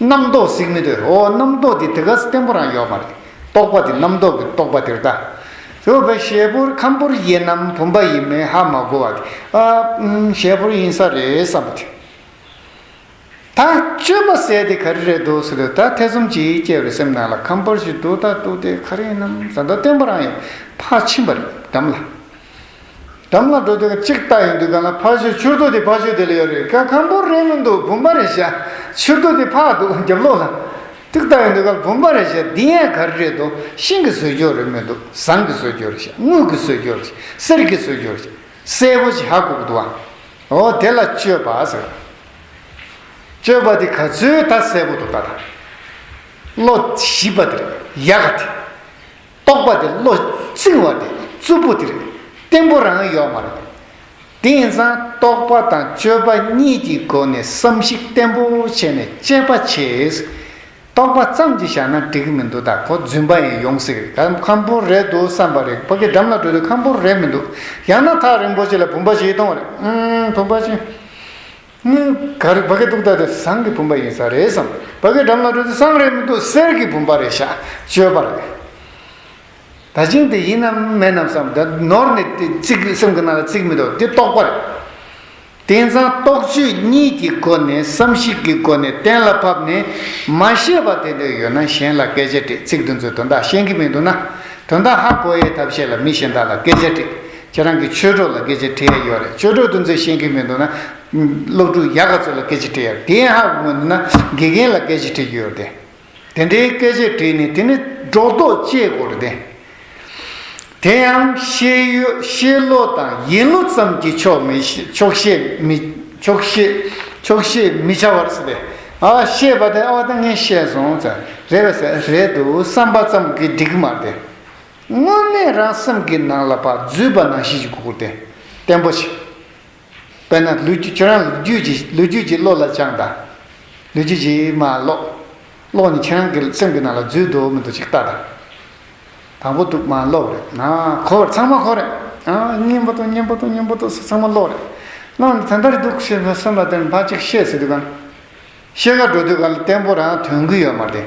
རྣམ་རྟོག་གཟིགས་མི་འདོད། འོ་རྣམ་རྟོག་འདི་དེ་ག་ས་བརྟན་པོ་རང་ཡོད་མ་རེད། རྟོག་པ་འདི་རྣམ་རྟོག་གི་རྟོག་པ་དེར་ལྟ། ཞེས་པའི་ཞལ་ཕུར་ཁམ་ཕུར་དབྱེ་ནམ་བུམ་པ་ཡིན་མིན་ཧ་མ་གོ་བ་དེ། ཞལ་ཕུར་ཡིན་ས་རེད་བསམ་པ་དེ། ད་སྤྱོད་པ་ཟད་དེ་ག་རེ་རེད་འདུག་ཟེར་ལོས་ད་ཐེ་ཚོམ་ཅིག་སྐྱེས་པའི་སེམས་ནང་ལ་ཁམ་ཕུར་ཞིག་འདུག་ད་འདུག་དེ་ག་རེ་ཡིན་ནམ་ཟ་འདོད་བརྟན་པོ་རང་ཡོད་ཕར་ཕྱིན་པ་རེད་བསྡམས་ལ། འགྲམ་ལ་འགྲོ་དོན་གཅིག་ལྟ་ཡི་འདུག་ག་ལ་ཕར་བཞུད་ཕྱིར་བསྡུ་དེ་ཕར་བཞུད་དེ་ལ་ཡོད་རེད་ཀ་ཁམ་པོར་རེད་མི་འདུག་བུམ་པ་རེད་བྱ། ཕྱིར་བསྡུ་དེ་ཕར་འདུག་རྒྱབ་ལོགས་ལ། ཏིག་ལྟ་ཡི་འདུག་ག་ལ་བུམ་པ་རེད་བྱ་འདི་ཡན་ག་རེ་རེད་དོ་ཤིང་གི་ཟོལ་རྒྱོགས་རེད་མི་འདུག་ཟངས་ཀྱི་ཟོལ་རྒྱོགས་རེད་བྱ་དངུལ་གྱི་ཟོལ་རྒྱོགས་རེད་བྱ་གསེར་གྱི་ཟོལ་རྒྱོགས་རེད་བྱ་གསལ་པོ་བྱ་གུག་འདུག་ཨ། འོ་དེ་ལ་སྤྱོད་པ་ཟེར། སྤྱོད་པ་དེ་ག་ཚོད་ད་གསལ་པོ་འདུག་ད་ད། བློ་ཞིབ་པ་དེ་རེད་ཡ་ག་དེ། རྟོག་པ་དེ་བློ་བཅིང་བ་དེ་རྩུབ་པོ་དེར་བརྟེན་པོ་རང་ཡོད་མ་རེད། དེང་སང་རྟོག་པ་དང་དཔྱོད་པ་གཉིས་ཀྱི་སྒོ་ནས་བསམ་གཞིག་བརྟན་པོ་བྱས་ནས་དཔྱད་པ་བྱེད། རྟོག་པ་ཙམ་གྱིས་བཞག་ན་འགྲིག་གི་མི་འདུག་ད་གོ་རྫུན་པ་ཡིན་ཡོང་སྲིད་ཁ་ཁམ་པོ་རེད་འདུག་བསམ་པ་རེད་བོད་ཀྱི་འགྲམ་ལ་འགྲོ་དུས་ཁམ་པོ་རེད་མི་འདུག་ཡང་ན་ཐག་རིང་པོ་ཅིག་ལ་བུམ་པ་ཞིག་གཏོང་བ་རེད་བུམ་པ་ཅིག། སྙིང་གར་བ་གའི་གདུགས་དག་དེ་ཟངས་ཀྱི་བུམ་པ་ཡིན་ས་རེད་བསམ། བ་གའི་འགྲམ་ན་འགྲོ་དུས་ཟངས་རེད་མི་འདུག་གསེར་གྱི་བུམ་པ་རེད་བཞག་སྤྱོད་པ་རེད། ད་སྙིང་དེ་ཡིན་ནམ་མེད་ནམ་བསམ། ད་ནོར་ནས་དེ་བརྩིགས་སེམས་ཀྱི་ནང་ལ་བརྩིགས་མི་འདུག་དེ་རྟོགས་པ་རེད། དེང་སང་རྟོགས་བརྗོད་གཉིས་ཀྱི་སྒོ་ནས་བསམ་གཞིག་གི་སྒོ་ནས་གཏན་ལ་ཕབ་ནས། མ་ཤེས་པ་དེ་འདྲ་ཡོད་ན་གཞན་ལ་སྐད་ཆ་དྲིས་ཚིག་འདི་ཚོའི་དོན་དག་ཤེས་ཀྱི་མི་འདུག་ན། དོན་དག་ཧ་གོ་ཡའི་ཐབས་ཤེས་ལ་མི་གཞན་དག་ལ་སྐད་ཆ་དྲིས། ཁྱེད་རང་གི་ཆོས་གྲོགས་ལ་སྐད་ཆ་དྲི་ཡ་ཡོད་རེད་ཆོས་གྲོགས་འདུ་འཛི་ཤེས་མཁན་མི་འདུག་ན། སློབ་ཕྲུག་ཡག་ག་ཚོད་ལ་སྐད་ཆ་དྲི་ཡ་དེ་ཡང་ཧ་གོ་མི་འདུག་ན་དགེ་རྒན་ལ་སྐད་ཆ་དྲི་གི་ཡོད་རེད། དེ་འདྲའི་སྐད་ཆ་དྲིས་ནས་དེ་ནི་སྒྲོག་འདོག་བཅད་དགོས་རེད། དེ་ཡང་ཤེས་ཡོད་ཤེས་བློ་དང་ཡིན་བློ་ཙམ་གྱིས་ཆོག་མི་ཆོག་ཤེས་མི་ཆོག་ཤེས་ཆོག་ཤེས་མི་བྱ་བར་ཟེར། ཨ་ཤེས་པ་དེ་ཨོ་ད་ངས་ཤེས་སོང་ཟེར། རེད་བསམ་རེད་འདུག་བསམ་པ་ཙམ་གྱིས་འགྲིག་གི་མ་རེད། དངོས་གནས་རང་སེམས་ཀྱི་ནང་ལ་བ་བརྫུས་པ་ནང་བཞིན་གྱི་གུ་གུ་དེ་བརྟན་པོ་བྱེད། དཔེར་ན་ལུས་རྒྱུད་ཁྱོད་རང་ལུས་རྒྱུད་ཀྱིས་ལུས་རྒྱུད་ཀྱིས་བློ་ལ་སྦྱངས་དང། ལུས་རྒྱུད་ཀྱིས་མ་བློ། བློ་ནི་ཁྱེད་རང་གི་སེམས་ཀྱི་ནང་ལ་བརྫུས་འདུག་མི་འདུག་ཅིག་བལྟ་དང། དང་པོ་དུག་མ་བློ་རེད། གོ་བར་ཚང་མ་གོ་རེད། སྙིང་པོ་དུག་སྙིང་པོ་དུག་སྙིང་པོ་དུག་སོགས་ཚང་མ་བློ་རེད། བློ་ནི་དེ་ལྟར་འདུག་ཞེས་མི་སེམས་ལ་དེར་འཕགས་ཅིག་ཤེས་ཟེར་དུས་གང། ཤེས་ཀ་འགྲོ་དུས་གང་ལ་བརྟན་པོ་རང་དོན་གུ་ཡོད་མ་རེད།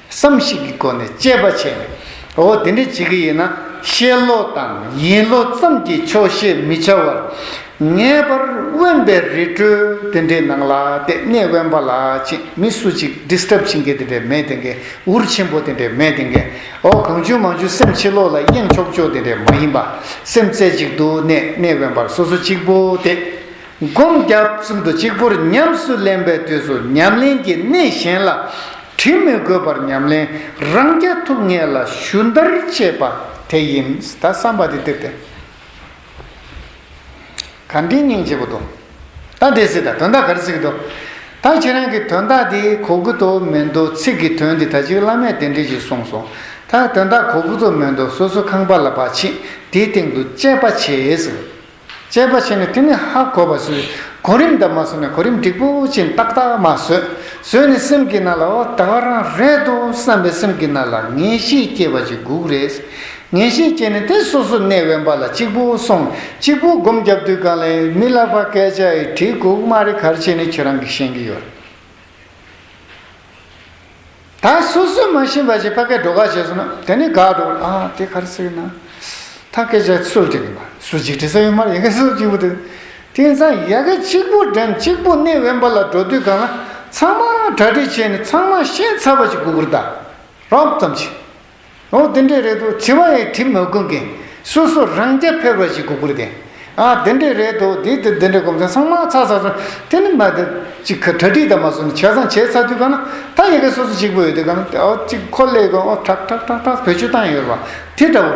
བསམ་གཞིག་གི་སྒོ་ནས་དཔྱད་པ་བྱས་ནས། འོ་དེ་འདྲ་བྱེད་ཀྱི་ཡིན་ན་ཤེས་བློ་དང་ཡིན་བློ་ཙམ་གྱིས་ཆོག་བཤད་མི་བྱ་བར། ངེས་པར་དབེན་པའི་རི་ཁྲོད་དེ་འདྲའི་ནང་ལ་ལྟས་ངན་དབེན་པ་ལ་ཆེད་མི་སུ་གཅིག Disturb བྱེད་མཁན་དེ་འདྲ་མེད་དེ་འགའི་འུར་ཆེན་པོ་དེ་འདྲ་མེད་དེ་འགའི་འོ་གང་བྱུང་མང་བྱུང་སེམས་ཕྱི་ལོག་ལ་གཡེང་ཆོག་ཆོག་དེ་འདྲ་མ་ཡིན་པ། སེམས་རྩེ་གཅིག་ཏུ་གནས་གནས་དབེན་པར་སོ་སོ་གཅིག་པོ་དེ། སྒོམ་རྒྱབ་གསུམ་དུ་གཅིག་པུར་ཉམས་སུ་ལེན་པའི་དུས་སུ་ཉམས་ལེན་གྱི་གནད་གཞན་ལ་དྲིལ་མི་དགོས་པར་ཉམས་ལེན་རང་རྐྱ་ཐུབ་ངེས་ལ་ཞུན་བརྡར་བྱེད་པ་དེ་ཡིན། ད་བསམ་པ་དེ་དེབ་དེ་ག་འབྲི་སྙིང་བྱེད་པོ་དོ་ད་འདི་སི་ད་དོན་དག་གར་སིག་དོ་ད་ཁྱེད་རང་གི་དོན་དག་དེ་གོ་གི་དོ་མེད་དོ་ཚིག་གི་དོན་དེ་ད་ཅིག་བླ་མས་དེ་འདྲི་ཞིག་གསུངས་སོང་ད་དོན་དག་གོ་གི་དོ་མེད་དོ་སོ་སོ་ཁང་པ་ལ་བ་ཕྱིན་དེའི་སྟེང་དུ་དཔྱད་པ་བྱེད། དཔྱད་པ་བྱས་ནས་དེ་ནི་ཧ་གོ་བར་བཟོས། གོ་རིམ་ལྟར་མ་བཟོས་ན་གོ་རིམ་འགྲིག་པོ་ཅན་ཏག་ཏག་མ་བཟོས། བཟོས་ནས་སེམས་ཀྱི་ནང་ལ་འོ་ད་བར་རང་རེད་དོ་བསམ་པའི་སེམས་ཀྱི་ནང་ལ་ངེས་ཤེས་སྐྱེས་པ་ཅིག་སྒུག་རེས། ངེས་ཤེས་སྐྱེས་ནས་དེ་སོ་སོ་གནས་དབེན་པ་ལ་གཅིག་པུ་སོང་གཅིག་པུ་སྒོམ་རྒྱབ་དུས་གང་ལས་མི་བརླག་པ་སྐད་ཆ་ཡི་གྲི་གུག་མ་རེ་གར་བྱས་ནས་ཁྱོད་རང་གིས་ཤེས་ཀྱི་ཡོད། ད་སོ་སོས་མ་ཤེས་པ་ཞིག་ཕ་སྐད་འགྲོ་ག་བྱས་སོང་ན་དེ་ནི་དགའ་འགྲོ་གི་ཨ་དེ་ག་རེ་ཟེར་གི་ན་ཐ་སྐད་ཆ་སུ་བྲིས་གི་ན་སུ་ཅིག་བྲིས་ས་ཡོད་མ་རེད་ཡིན་ག་སུ་གཅིག་པུ་དེ་དེང་སང་ཡལ་ག་གཅིག་པུ་འགྲེམས་གཅིག་པུ་གནས་དབེན་པ་ལ་འགྲོ་དུས་གང་ན་ཚང་མ་གྲ་སྒྲིག་བྱས་ནས་ཚང་མ་ཤེས་ཚར་བ་ཞིག་གུ་གུར་དང་རོབ་ཙམ་ཞིག། ཨོ་དེ་འདྲས་རེད་དོ་བྱི་བ་ཡི་གྲིབ་མ་ཀུན་གྱི། སོ་སོ་རང་རྐྱ་ཕེར་བ་ཞིག་གུ་གུར་དེ། ཨ་དེ་འདྲས་རེད་དོ་དེ་དེ་དེ་འདྲས་སྒོམ་ཚན་སང་མ་ཚ་ཚ་ཚ། དེ་ནི་མ་དེ། ཅིག་ག་གྲ་སྒྲིག་དང་མ་སོ་ནི་བྱས་ཙང་བྱས་ཚར་དུས་གང་ན་ད་ཡི་གེ་སོ་སོ་གཅིག་པོ་ཡོད་དུས་གང་ན་ཨོ་ཅིག་ཁོ་ཀླད་ཀོར་ཨོ་ཁྲག་ཁྲག་ཁྲག་ཁྲག་བོད་ཆུ་བཏང་ཡོད་པ་དེ་འདྲ་བོ།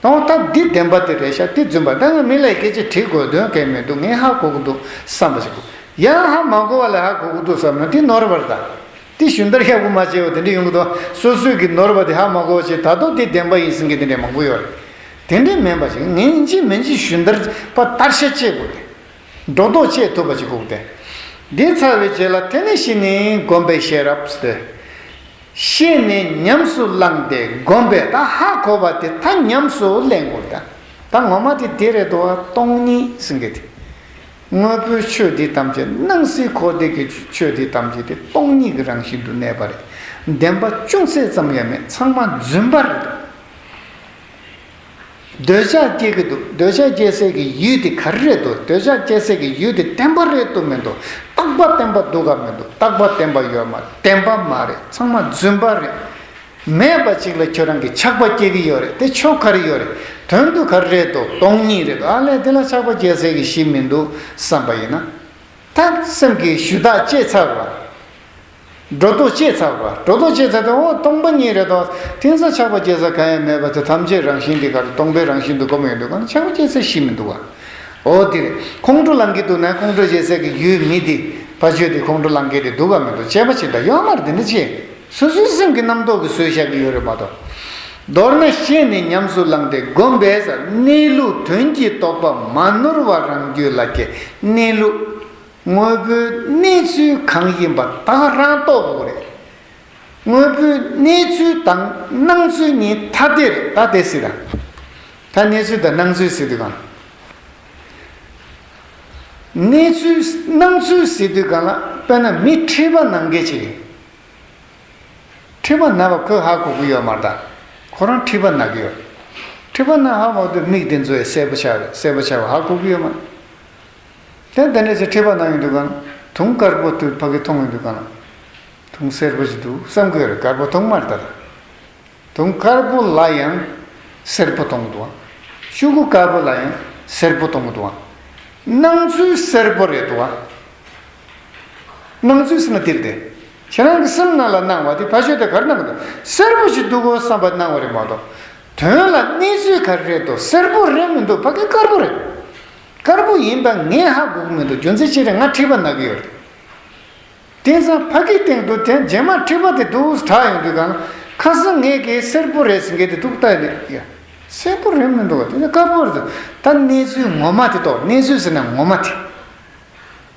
གཏོང་ཐབས་འདི་བདེན་པ་དེ་རེད་ཤག་དེ་རྫུན་པ་ད་ངས་མི་ལ་སྐད་ཆ་དྲིས་དགོས་དོན་གས་མི་འདུག་ངས་ཧ་གོ་གི་འདུག་བསམ་པ་ཞིག་གོ་ཡང་ཧ་མ་གོ་བ་ལ་ཧ་གོ་གི་འདུག་བསམ་ན་དེ་ནོར་བར་གདའ། དེ་གཞུང་ལྟར་ཧྱ་གོ་མ་བྱས་བ་དེ་འདྲས་ཡོང་གི་འདུག་སོ་སོས་ཀྱིས་ནོར་བ་དེ་ཧ་མ་གོ་བ་ཞིག་ད་དོ་དེ་བདེན་པ་ཡིན་ཟིན་གི་དེ་འདྲས་མང་པོ་ཡོད་རེད། དེ་འདྲས་མིན་པ་ཞིག་ངས་འཇིགས་མི་འཇིགས་གཞུང་ལྟར་པ་ལྟར་ཤ་བཅད་དགོས་ཏེ། སྒྲོ་འདོགས་བཅད་ཐུབ་པ་ཞིག་གོ་དེ་འདི་ཚར་བའི་རྗེས་ལ་དེ་ནས་ཤི་ནི་སྒོམ་པའི་ཤེས་རབ་སྟེ། ཤེས་ནས་ཉམས་སུ་བླངས་ཏེ་བསྒོམས་པས་ད་ཧ་གོ་བ་དེ་ད་ཉམས་སུ་ལེན་དགོས་ད་ད་ངོ་མ་དེ་དེ་རེད་དོ་སྟོང་ཉིད་སེང་གེ་དེ། དངོས་པོའི་ཆོས་འདི་ཐམས་ཅད་སྣང་སྲིད་འཁོར་འདས་ཀྱི་ཆོས་འདི་ཐམས་ཅད་དེ་སྟོང་ཉིད་ཀྱི་རང་བཞིན་དུ་གནས་པ་རེད་བདེན་པ་ཅུང་ཟད་ཙམ་ཡང་མེད་ཚང་མ་རྫུན་པ་རེད་དོ། འདོད་ཆགས་སྐྱེ་གི་འདུག་འདོད་ཆགས་སྐྱེ་སའི་གི་ཡུལ་དེ་ག་རེ་རེད་དོ་འདོད་ཆགས་སྐྱེ་སའི་གི་ཡུལ་དེ་བདེན་པ་རེད་དོ་མི་འདུག་རྟག་པ་བདེན་པ་འདུག་ག་མི་འདུག་རྟག་པ་བདེན་པ་ཡོད་མ་བདེན་པ་མ་རེད་ཚང་མ་རྫུན་པ་རེད། མེད་པ་ཅིག་ལ་ཁྱོད་རང་གི་ཆགས་པ་སྐྱེ་གི་ཡོད་རེད་དེ་ཆོ་ག་རེ་ཡོད་རེད་དོན་དུ་ག་རེ་རེད་དོ་སྟོང་ཉིད་རེད་དོ་ཨ་ལས་དེ་ལ་ཆགས་པ་སྐྱེ་སའི་གི་གཞི་མི་འདུག་བསམ་པ་ཡིན་ན། ད་སེམས་ཀྱི་ཞུ་དག་སྐྱེས་ཚར་བ། སྒྲོ་འདོགས་བཅད་ཚར་བ། སྒྲོ་འདོགས་བཅད་ཚར་ཏེ་འོ་སྟོང་པ་ཉིད་རེ་དོགས། མཐིང་ས་ཆགས་པ་སྐྱེ་ས་གང་ཡང་མེད་པ་དེ་ཐམས་ཅད་རང་བཞིན་དེ་གར་སྟོང་པའི་རང་བཞིན་དུ་བསྒོམ་ཡོད་འདུག་གང་ཆགས་པ་སྐྱེ་ས་གཞི་མི་འདུག་བ། འོ་འདིར་ཁོང་ཁྲོ་ལང་གི་འདུག་ན་ཁོང་ཁྲོ་བྱེད་སའི་གི་ཡུལ་མི་དེ་བ་བརྗོད་དེ་ཁོང་ཁྲོ་ལང་གི་དེ་འདུག་ག་མི་འདུག་དཔྱད་པ་བྱེད་ད་ཡོད་མར་དེ་འདྲ་བྱས། སོ་སོའི་སེམས་ཀྱི་རྣམ་རྟོག་གི་སོས་བཞག་གི་ཡོད་རེད་མ་གཏོགས། མདོར་ན་ཤེས་ནས་ཉམས་སུ་བླངས་ཏེ་བསྒོམ་པས་གནས་ལུགས་དོན་གྱི་རྟོགས་པ་མ་ནོར་བ་རང་རྒྱུད་ལ་སྐྱེ་གནས་ལུགས། དངོས་པོའི་གནས་ཚུལ་གང་ཡིན་པ་དག་རང་རྟོགས་དགོས་རེད། དངོས་པོའི་གནས་ཚུལ་དང་སྣང་ཚུལ་གཉིས་ཐ་དད་རེད་ད་དེ་སྲིད་དང། ད་གནས་ཚུལ་དང་སྣང་ཚུལ་ཟེར་དུས་གང། གནས་ཚུལ་སྣང་ཚུལ་ཟེར་དུས་གང་ལ་དཔེར་ན་མི་ཁྲི་པ་ནང་འགལ་བྱེད་རེད། ཁྲི་པ་ན་བ་ཁོས་ཧ་གོ་གི་ཡོད་མ་རྟ་ཁོ་རང་ཁྲི་པ་ན་གི་ཡོད། ཁྲི་པ་ན་ཧ་མོ་དུ་མིག་དེ་ཚོས་གསལ་པོ་ཆ་གསལ་པོ་ཆ་བ་ཧ་གོ་གི་ཡོད་མ་རེད། དེ་འདི་འདྲ་ཞིག་ཁྲིད་པ་གནང་གི་འདུག་ག་ན་དུང་དཀར་པོ་དུས་ཕ་གིས་མཐོང་གི་འདུག་ག་ན་དུང་སེར་པོ་ཞིག་འདུག་བསམ་གི་རེད་དཀར་པོ་དུང་དམར་དར་དུང་དཀར་པོ་ལ་ཡང་སེར་པོ་དུང་དུང་ཤུ་གུ་དཀར་པོ་ལ་ཡང་སེར་པོ་དུང་དུང་སྣང་ཚུལ་སེར་པོ་རེད་དུང་སྣང་ཚུལ་སེར་དེར་དེ་ཁྱེད་རང་གི་སེམས་ནང་ལ་སྣང་བ་དེ་ཕ་ཤོད་དེ་གར་སྣང་གི་འདུག་སེར་པོ་ཞིག་འདུག་གོ་བསམ་པ་སྣང་བ་རེད་མ་གཏོགས་དོན་ལ་གནས་ཚུལ་ག་རེ་རེད་དོ་སེར་པོ་རེད་མི་འདུག་ཕ་གི་དཀར་པོ་རེད། དཀར་པོ་ཡིན་པ་ངས་ཧ་གོ་གི་མི་འདུག་རྒྱུ་མཚན་ཅི་རེད་ང་ཁྲིད་པ་ན་གི་ཡོད་རེད། དེང་སང་ཕ་གིའི་སྟེང་དུ་དེ་རྗེས་མར་ཁྲིད་པ་དེ་དུག་དྲག་ཡོང་དུས་གང། ཁ་སང་ངེད་ཀྱིས་སེར་པོ་རེད་ཟེར་མཁན་དེ་དུག་རྟགས་རེད་ཡ། སེར་པོ་རེད་མི་འདུག་བ་དེ་ནི་དཀར་པོ་རེད། ད་གནས་ཚུལ་ངོ་མ་དེ་རྟོགས་གནས་ཚུལ་ཟེར་ན་ངོ་མ་དེ།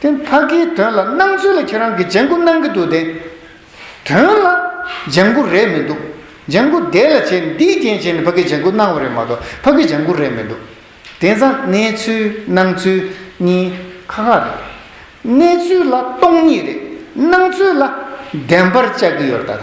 དེ་ཕ་གིའི་དོན་ལ་སྣང་ཚུལ་ལ་ཁྱེད་རང་གིས་ལྗང་གུ་སྣང་གི་འདུག་དེ། དོན་ལ་ལྗང་གུ་རེད་མི་འདུག། ལྗང་གུ་དེ་ལ་བྱས་ནས་འདིའི་རྐྱེན་བྱས་ནས་ཕ་གིའི་ལྗང་གུ་སྣང་བ་རེད་མ་གཏོགས་ཕ་གིའི་ལྗང་གུ་རེད་མི་འདུག། དེང་སང་གནས་ཚུལ་སྣང་ཚུལ་གཉིས་ཁ་ཁ་རེད། གནས་ཚུལ་ལ་སྟོང་ཉིད་རེད། སྣང་ཚུལ་ལ་བདེན་པར་བཅའ་གི་ཡོད་རེད་ད།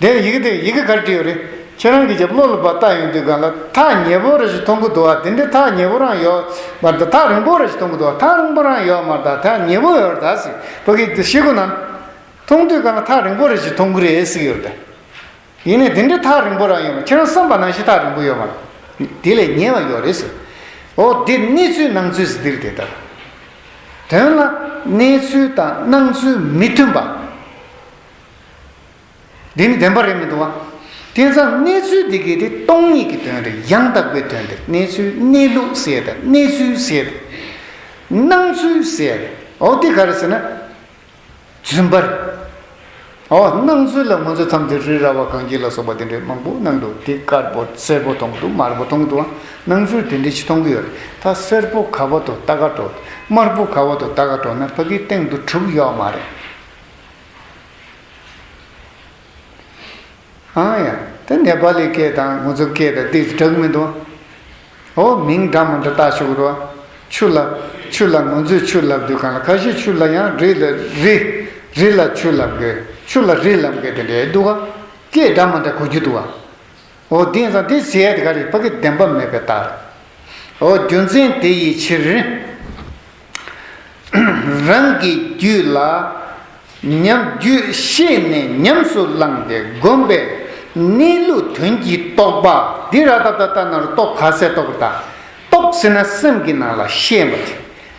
དེ་ཡི་གེ་དེ་ཡི་གེ་གར་བྲིས་ཡོད་རེད། ཁྱེད་རང་གིས་ཀྱང་བློ་ལ་བབས་བལྟ་ཡོང་དུས་གང་ལ་ཐག་ཉེ་པོ་རེ་ཞིག་མཐོང་གི་འདུག་ཨ་དེ་འདྲའི་ཐག་ཉེ་པོ་རང་ཡོད་མ་རེད་ད་ཐག་རིང་པོ་རེ་ཞིག་མཐོང་གི་འདུག་ཨ་ཐག་རིང་པོ་རང་ཡོད་མ་རེད་ད་ཐག་ཉེ་པོ་ཡོད་རེད་ད་ཟེར་བ་གིས་དེ་ཤེས་ཁོ་ན། མཐོང་དུས་གང་ལ་ཐག་རིང་པོ་རེ་ཞིག་མཐོང་གི་རེད་ཟེར་གྱི་ཡོད་རེད། ཡིན་ནའི་དེ་འདྲའི་ཐག་རིང་པོ་རང་ཡོད་མ་ཁྱེད་རང་བསམ་པ་ནང་བཞིན་ཐག་རིང་པོ་ཡོད་མ་རེད། དེ་ལས་ཉེ་བ་ཡོད་རེད་ཟེར། འོ་དེ་གནས་ཚུལ་སྣང་ཚུལ་ཟེར་འདིར་དེ་ལྟར། དོན་ལ་གནས་ཚུལ་དང་སྣང་ཚུལ་མི་མཐུན་པ། འདི་ནི་བདེན་པ་རེད་མི་འདུག་བ། དེ་མཚམས་གནས་ཚུལ་འདི་གའི་དེ་སྟོང་ཉིད་ཀྱི་དོན་རེད་ཡང་དག་པའི་དོན་འདིར་གནས་ཚུལ་གནས་ལུགས་གསལ་དང་གནས་ཚུལ་གསལ་དང། སྣང་ཚུལ་གསལ། འོ་འདི་ག་རེད་ཟེར་ན། རྫུན་པ་རེད། འོ་སྣང་ཚུལ་ལ་ང་ཚོ་མཚམས་འདིར་རི་ར་བ་གངས་སྐྱིད་ལ་སོགས་པ་དེ་འདྲའི་མང་པོ་སྣང་འདུག་དེ་དཀར་པོ་སེར་པོ་མཐོང་འདུག་དམར་པོ་མཐོང་འདུག་བ། སྣང་ཚུལ་དེ་འདྲའི་ཅི་མཐོང་གི་ཡོད་རེད་ད་སེར་པོ་ག་བ་དོ་ད་ག་དོ། དམར་པོ་ག་བ་དོ་ད་ག་དོ་ན་ཕ་གིའི་སྟེང་དུ་དྲུག་གཡོག་མ་རེད། ཨང་ཡ། དེ་ནེ་པ་ལི་སྐད་དང་ངུ་ཚུབ་སྐད་དང་དེས་གྲགས་མི་འདུག། འོ་མིང་འདྲ་མ་འདྲ་བཏགས་བཞུགས་རོགས། ཆུ་ལབ། ཆུ་ལ་ངོ་མཛོད་ཆུ་ལབ་དུས་གང་ལ་ཁ་ཤས་ཆུ་ལ་ཡང་རི་ལ་རི། རི་ལ་ཆུ་ལབ་དགོས། ཆུ་ལ་རི་ལབ་དགོས་དེ་འདྲའི་འདུག་ག། སྐད་འདྲ་མ་འདྲ་གོ་རྒྱུ་འདུག་ག། འོ་དེང་སང་དེ་ཟེར་ཡ་དེ་ག་རེད་ཕ་གི་བདེན་པ་མེད་པའི་རྟགས་རེད། འོ་རྒྱུ་མཚན་དེ་ཡི་ཕྱིར། རང་གི་རྒྱུད་ལ། ཉམས་རྒྱུད་ཤེས་ནས་ཉམས་སུ་བླངས་ཏེ་བསྒོམས་པས། གནས་ལུགས་དོན་གྱིས་རྟོགས་པ་འདི་ར་ཏཱ་ཏཱ་ཏཱ་ནཱ་རུ་ཏོ་གྷ་སའི་རྟོགས་པ་དང། རྟོགས་ཟིན་ན་སེམས་ཀྱི་ནང་ལ་ཤེས་པ་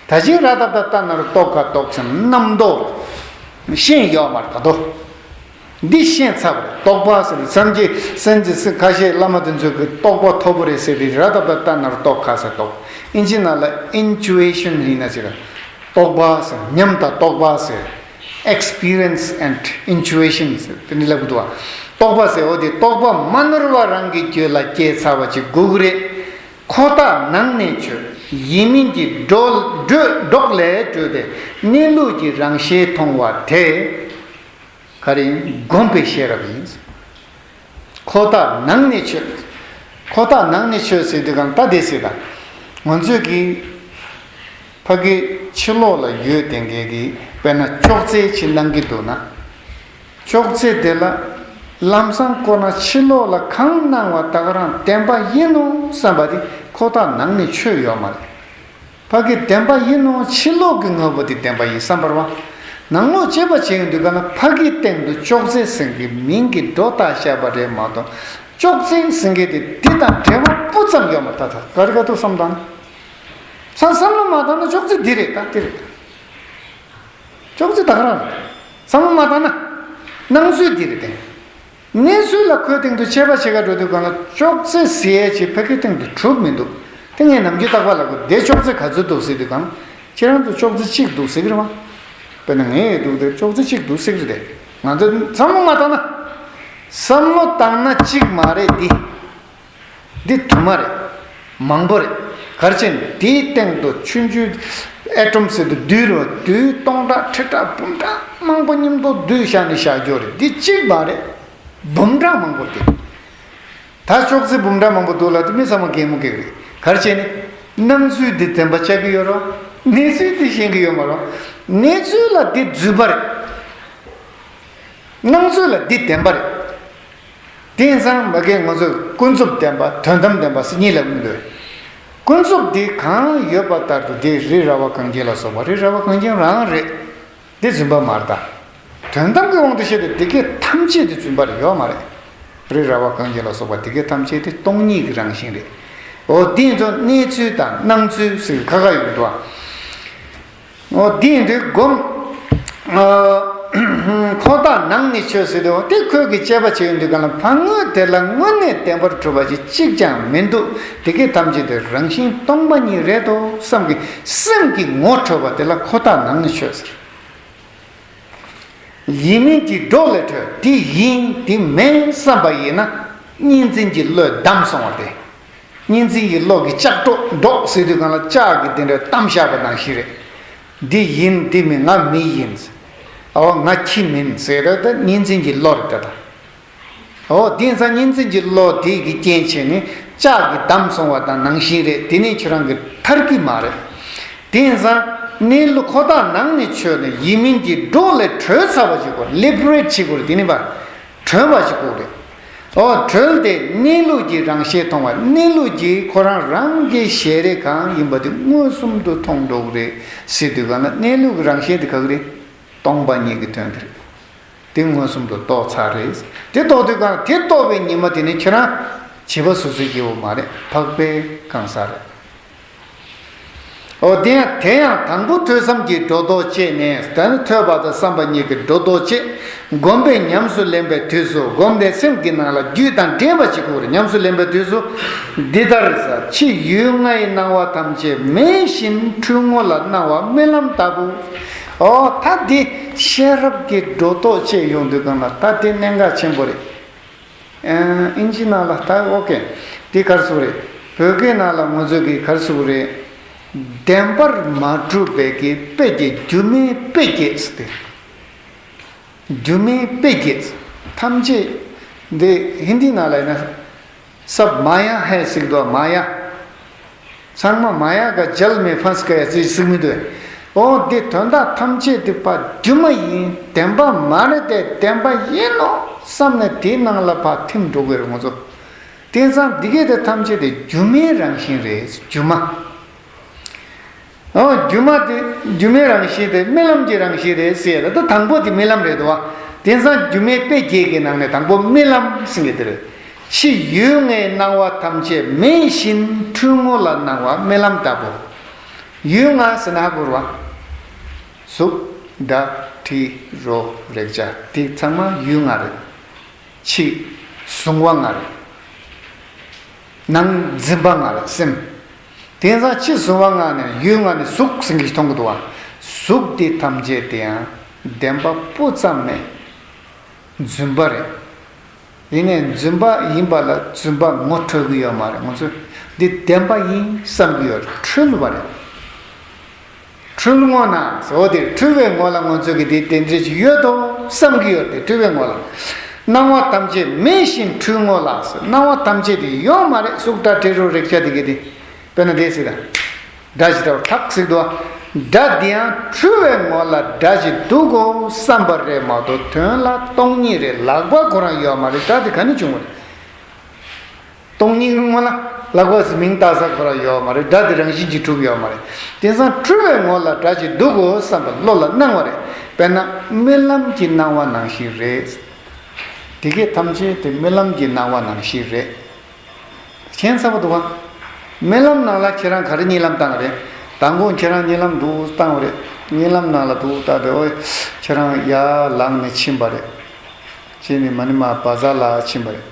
དེ་ད་གཞན་ར་ཏཱ་ཏཱ་ཏཱ་ནཱ་རུ་ཏོ་གྷ་རྟོགས་ཟིན་རྣམ་རྟོག་ཤེས་ཡོད་པར་ད་དོ། འདི་ཤེས་ཚར་བས་རྟོགས་པ་ཟེར་བའི་སངས་རྒྱས་སེམས་ཀྱི་སེམས་ཁ་ཤས་བླ་མ་དེ་ཚོས་གི་རྟོགས་པ་ཐོར་བུ་རེད་ཟེར་བའི་ར་ཐབ་ལ་ལྟ་ན་རྟོགས་ཁ་ཟེར་རྟོགས་ཨིན་ཇི་ན་ལ Intuition ཡིན་ན་ཅི་ར། རྟོགས་པ་ཟེར་ཉམས་དང་རྟོགས་པ་ཟེར། Experience and Intuition ཟེར་དེ་འདྲ་ལབ་འདུག་བ། རྟོགས་པ་ཟེར་འོ་དེ་རྟོགས་པ་མ་ནོར་བ་རང་གི་གྱོད་ལ་སྐྱེས་ཚར་བ་ཅིག་དགོས་གི་རེད། ཁོ་ཐག་ནང་ནས་ཆོད་ཡིན་མིན་གྱི་སྒྲོག་ལས་གྲོལ་བས་གནས་ལུགས་ཀྱི་རང་ཞལ་མཐོང་བ་དེ། ག་རེ་བསྒོམས་པའི་ཤེས་རབ་ཡིན། ཁོ་ཐག་ནང་ནས་ཆོད། ཁོ་ཐག་ནང་ནས་ཆོད་ཟེར་དུས་གང་ལྟ་བསྡད་སྲིད་ལ། ང་ཚོས་ཀྱི། ཕ་གི་ཕྱི་ལོགས་ལ་ཡོད་དེ་འགས་ཀྱི་དཔེར་ན་ཅོག་ཙེ་ཆེ་གནང་གི་འདུག་ན། ཅོག་ཙེ་དེ་ལ། ལམ་སང་བསྐོར་ན་ཕྱི་ལོགས་ལ་གང་གནང་བ་དག་རང་བདེན་པ་ཡིན་ནོ་བསམ་པ་དེ་ཁོ་ཐག་ནང་ནས་ཆོད་ཡོད་མ་རེད། ཕ་གི་བདེན་པ་ཡིན་ནོ་ཕྱི་ལོག་གི་དངོས་པོ་དེ་བདེན་པ་ཡིན་བསམ་པར་བ། ནང་ལོག་དཔྱད་པ་བྱས་ཡོང་དུས་ག་ལ་ཕ་གིའི་སྟེང་དུ་ཅོག་ཙེའི་སེང་གེའི་མིང་གི་སྒྲོ་བཏགས་ཤར་བ་རེད་མ་གཏོགས་ཅོག་ཙེའི་སེང་གེ་དེ་དེ་དང་འབྲེལ་བ་སྤུ་ཙམ་ཡོད་མ་ཐག་ཐག་ག་རེ་ག་ཐུག་བསམ་དང། ཚང་བསམ་བློ་མ་བཏང་ན་ཅོག་ཙེ་འདི་རེད་ད་དེ་རེད། ཅོག་ཙེ་བདག་རང་རེད་བསམ་བློ་མ་བཏང་ན། སྣང་ཚུལ་འདི་རེད་དེ། གནས་ཚུལ་ལ་ཁོའི་སྟེང་དུ་ཆད་པ་ཕྱེད་ཀ་འགྲོ་དུས་གང་ལ་ཅོག་ཙེ་བཟི་ཡས་ཆེ་ཕ་གིའི་སྟེང་དུ་གྲུབ་མི་འདུག་དེ་ངས་ནམ་རྒྱུན་བརྟག་པ་ལ་གོ་བདེ་ཅོག་ཙེ་ག་ཚོད་འདུག་གཟིགས་དུས་གང་ཁྱེད་རང་ཚོ་ཅོག་ཙེ་གཅིག་འདུག་གཟིགས་རེད་མ་དཔེར་ན་ངས་ཡོད་འདུག་དེར་ཅོག་ཙེ་གཅིག་འདུག་གཟིགས་རེད་དེ་ང་ཚོས་བསམ་བློ་མ་བཏང་ན། བསམ་བློ་བཏང་ན་གཅིག་མ་རེད་འདི། འདི་དུ་མ་རེད། མང་པོ་རེད། གར་ཆེན་འདིའི་སྟེང་དུ་ཆུ་འཇུ། ཨེ་ཀྲོམ་སེ་དུ་འདུས་རོ་འདུས་སྟོང་ཕྲག་ཁྲི་ཕྲག་འབུམ་ཕྲག་མང་པོ་སྙིང་པོ་འདུས་ཤག་ནི་ཤག་འགྱོ་རེད་འདི་གཅིག་མ་རེད། འབུམ་ཕྲག་མང་པོ་འདུས། ད་ཅོག་ཙེ་འབུམ་ཕྲག་མང་པོ་འདུག་ལ་དེ་མི་ཚང་མ་གེགས་མོ་གེགས་རེད་གར་ཆེན་ནི། སྣང་ཚུལ་འདི་བདེན་པ་ཆགས་ཀྱི་ཡོད་རོགས། གནས་ཚུལ་འདི་ཤེས་ཀྱི་ཡོད་མ་རོགས། གནས་ཚུལ་ལ་འདི་རྫུས་པ་རེད། སྣང་ཚུལ་ལ་འདི་བདེན་པ་རེད། དེང་སང་མི་རྒན་ང་ཚོས་ཀུན་རྫོབ་བདེན་པ་དོན་དམ་བདེན་པ་སྲིད་གཉིས་ལ་དབུལ་ལོས། ཀུན་རྫོབ་འདི་གང་ཡོད་པ་ལྟར་དུ་འདི་རི་ར་བ་གངས་ཅན་ལ་སོགས་པ་རི་ར་བ་གངས་ཅན་རང་རེད། འདི་རྫུན་པ་མར་གདའ། དོན་དམ་གྱི་དབང་དུ་བཤད་པའི་འདི་སྐད་ཐམས་ཅད་འདི་རྫུན་པ་རེད་ཡོད་མ་རེད། རི་ར་བ་གངས་ཅན་ལ་སོགས་པ་འདི་སྐད་ཐམས་ཅད་འདི་སྟོང་ཉིད་ཀྱི་རང་བཞིན་རེད། འོ་དེ་ཚོ་གནས་ཚུལ་དང་སྣང་ཚུལ་ཟེར་གྱི་ཁ་ཁ་ཡོད་འགྲོ་ཨ། འདི་འདི་བསྒོམ། ཁོ་དག་ནང་ནས་ཆོས་ཟེར་དུས་དེ་ཁོས་ཀྱི་དཔྱད་པ་བྱས་ཡོད་འདུག་ག་ལ་ཕང་ངོ་དེ་ལ་དངོས་གནས་བདེན་པར་གྲུབ་པ་ཞིག་གཅིག་ཀྱང་མི་འདུག་དེ་གས་ཐམས་ཅད་དེ་རང་བཞིན་སྟོང་པ་ཉིད་རེད་དོ་བསམ་གི་སེམས་ཀྱི་ངོ་འཕྲོད་པ་དེ་ལ་ཁོ་དག་ནང་ནས་ཆོས་ཟེར། ཡིན་མིན་གྱི་སྒྲོག་ལས་འཕྲོས་དེ་ཡིན་དེ་མིན་བསམ་པ་ཡིན་ན་གཉིས་འཛིན་གྱི་བློས་བསྡམས་སོང་བ་དེ་གཉིས་འཛིན་གྱི་གློག་གིས་ལྕགས་སྒྲོག་སྒྲོག་ཟེར་དུས་གང་ལ་ལྕགས་ཀྱི་དེ་འདྲའི་གཏམ་བཤད་པ་དང་བཞི་རེད། འདི་ཡིན་འདི་མིན་ང་མི་ཡིན། འོ་ང་ཁྱི་མིན་ཟེར་ར་ད་གཉིས་འཛིན་གྱི་གློག་རེད་ད་དང། འོ་དེང་སང་གཉིས་འཛིན་གྱི་གློག་དེ་གི་རྐྱེན་བྱས་ནས་ལྕགས་ཀྱི་བསྡམས་སོང་བ་དང་ནང་བཞིན་རེད་དེ་ནི་ཁྱོད་རང་གི་མཐར་གི་མ་རེད། དེང་སང་གནས་ལུགས་ཁོ་ཐག་ནང་ནས་ཆོད་ནས་ཡིན་མིན་གྱི་སྒྲོག་ལས་གྲོལ་ཚར་བ་ཞིག་གོ་ལེབ་རེད་བྱེད་དགོས་རེད་དེ་ནི་བ་གྲོལ་བ་ཞིག་ཀོ་རེད། འོ་གྲོལ་དེ་གནས་ལུགས་ཀྱི་རང་ཞལ་མཐོང་བ་གནས་ལུགས་ཀྱི་ཁོ་རང་རང་གི་ཞལ་རེ་གང་ཡིན་པ་དེ་མངོན་སུམ་དུ་མཐོང་འགྲོ་རེད་སྲིད་དུས་གང་ན་གནས་ལུགས་ཀྱི་རང་ཞལ་དེ་གག་རེད། སྟོང་པ་ཉིད་ཀྱི་དོན་དེ་རེད། དེ་མངོན་སུམ་དུ་རྟོགས་ཚར་རེད། དེ་རྟོགས་དུས་གང་དེ་རྟོགས་པའི་ཉི་མ་དེ་ནི་ཁྱེད་རང་བྱིས་པ་སོ་སོའི་སྐྱེ་བོ་མ་རེད་འཕགས་པའི་གང་ཟག་རེད། ཨོ་དེ་ཡང་དེ་ཡང་དང་པོ་ཐོས་བསམ་གྱིས་སྒྲོ་འདོགས་བཅད་ནས་ད་ནི་ཐོས་པ་དང་བསམ་པ་གཉིས་ཀྱི་སྒྲོ་འདོགས་བཅད། བསྒོམ་པས་ཉམས་སུ་ལེན་པའི་དུས་སུ་བསྒོམ་བཟླས་སེམས་ཀྱི་ནང་ལ་རྒྱུད་དང་འབྲེལ་བ་ཅིག་གོ་བར་ཉམས་སུ་ལེན་པའི་དུས་སུ། འདི་ལྟར། ཕྱི་ཡུལ་ལྔའི་སྣང་བ་ཐམས་ཅད་མེད་བཞིན་འཁྲུལ་ངོ་ལ་སྣང་བ་རྨི་ལམ་ལྟ་བུ། ཨོ་ད་དེ་ཤེས་རབ་ཀྱིས་སྒྲོ་འདོགས་བཅད་ཡོང་དུས་གང་ལ་ད་དེ་གནད་འགག་ཆེན་པོ་རེད། ཨིན་ཇི་ནང་ལ་ལྟ་ཨོ་ཀེ། འདི་གར་སོགས་རེད། བོད་སྐད་ནང་ལ་ངོ་ཚོས་ཀྱི་གར་སོགས་རེད། བདེན་པར་མ་གྲུབ་པའི་ཀྱི་དཔེ་ཀྱི་སྒྱུ་མའི་དཔེ་བརྒྱད་ཟེར་ཏེ། སྒྱུ་མའི་དཔེ་བརྒྱད་ཐམས་ཅད། འདི་ཧིན་དི་ནང་ལ་ཡིན་ན། སབ་མ་ཡ་ཧེ་སིག་དོ་མ་ཡ། ཚང་མ་མ་ཡག་ག་འཇལ་མེད་ཕན་སྐད་ཡག་ཅིག་ཟིག་མི་འདུག་ཨོ་འདི་དོན་དག་ཐམས་ཅད་དུ་ཕ་རྒྱུད་མ་ཡིན་བདེན་པ་མ་རེད་དེ་བདེན་པ་ཡིན་ནོ་བསམ་ནས་དེའི་ནང་ལ་ཕ་ཐིམ་འགྲོ་གི་རེད་ངོ་ཚོ་དེང་སང་འདི་གས་དེ་ཐམས་ཅད་དུ་སྒྱུ་མའི་རང་བཞིན་རེད་སྒྱུ་མ་ཨོ་སྒྱུ་མ་དེ་སྒྱུ་མའི་རང་བཞིན་དེ་རྨི་ལམ་གྱི་རང་བཞིན་རེད་ཟེར་ཡ་ད་དང་པོ་དེ་རྨི་ལམ་རེད་དོ་བ་དེང་སང་སྒྱུ་མའི་དཔེ་བརྒྱད་ཀྱི་ནང་ནས་དང་པོ་རྨི་ལམ་ཟིན་གི་དེ་རེད་ཕྱི་ཡུལ་ལྔའི་སྣང་བ་ཐམས་ཅད་མེད་བཞིན་འཁྲུལ་ངོ་ལ་སྣང་བ་རྨི་ལམ་ལྟ་བུ། ཡུལ་ལྔ་ཟི་ན་གུར་བ། གཟུགས། སྒྲ། དྲི། རོ། རེག་བྱ་འདི་ཚང་མ་ཡུལ་ལྔ་རེད། ཕྱི། གཟུང་བ་ལྔ་རེད། ནང། འཛིན་པ་ལྔ་རེད་སེམས། དེང་སང་ཕྱི་གཟུང་བ་ལྔ་ནས་ཡུལ་ལྔ་ནི་གཟུགས་ཟིན་གྱི་མཐོང་གི་འདུག་བ། གཟུགས་འདི་ཐམས་ཅད་དེའང་བདེན་པ་སྤུ་ཙམ་མེད། རྫུན་པ་རེད། ཡིན་ནས་རྫུན་པ་ཡིན་པ་ལ་རྫུན་པ་ངོ་འཕྲོད་ཀྱི་ཡོད་མ་རེད་ང་ཚོས་འདི་བདེན་པ་ཡིན་བསམ་གྱི་ཡོད་རེད་འཁྲུལ་བ་རེད། འཁྲུལ་ངོ་ན་འོ་དེ་འཁྲུལ་བའི་ངོ་ལ་ང་ཚོས་ཀྱི་དེ་བདེན་འཛིན་ཞིག་ཡོད་དོ་བསམ་གྱི་ཡོད་དེ་འཁྲུལ་བའི་ངོ་ལ། སྣང་བ་ཐམས་ཅད་མེད་བཞིན་འཁྲུལ་ངོ་ལ་སྣང་བ་ཐམས་ཅད་དེ་ཡོད་མ་རེད་སུག་སྒྲ་དྲི་རོ་རེག་བྱ་དེ་གི་དེ། དཔེར་ན་དེའི་ཚིག་དང། སྒྲ་བཞི་ལྟ་བུ་ཐག་ཚིག་ཏུ། སྒྲ་འདི་ཡང་འཁྲུལ་བའི་ངོ་ལ་སྒྲ་བཞི་འདུག་གོ་བསམ་པ་རེད་མ་གཏོགས་དོན་ལ་སྟོང་ཉིད་རེད་ལག་པ་ཁོ་རང་ཡོད་མ་རེད་སྒྲ་དེ་ག་ནས་བྱུང་བ་རེད། སྟོང་ཉིད་ཀྱི་ངོ་ལ་ལག་པ་ཟི་མིང་བཏགས་ས་ཁོ་རང་ཡོད་མ་རེད་སྒྲ་དེ་རང་བཞིན་གྱིས་གྲུབ་ཡོད་མ་རེད། དེང་སང་འཁྲུལ་བའི་ངོ་ལ་སྒྲ་བཞི་འདུག་གོ་བསམ་པ་བློ་ལ་སྣང་བ་རེད་དཔེར་ན་རྨི་ལམ་གྱི་སྣང་བ་ནང་བཞིན་རེད། དེ་སྐད་ཐམས་ཅད་དེ་རྨི་ལམ་གྱི་སྣང་བ་ནང་བཞིན་རེད། མཁྱེན་ཚ་པོ་འདུག་ཨ། རྨི་ལམ་ནང་ལ་ཁྱེད་རང་ག་རེ་རྨྱིན་ལམ་བཏང་བ་རེད། ད་འགོང་ཁྱེད་རང་རྨྱིན་ལམ་འདུག་བཏང་བ་རེད། རྨྱིན་ལམ་ནང་ལ་འདུག་བཏང་བས་ཨོའི། ཁྱེད་རང་ཡར་ལངས་ནས་ཕྱིན་པ་རེད། ཕྱིན་ནས་མ་ནི་མ་བ་ཟ་ལ་ཕྱིན་པ་རེད།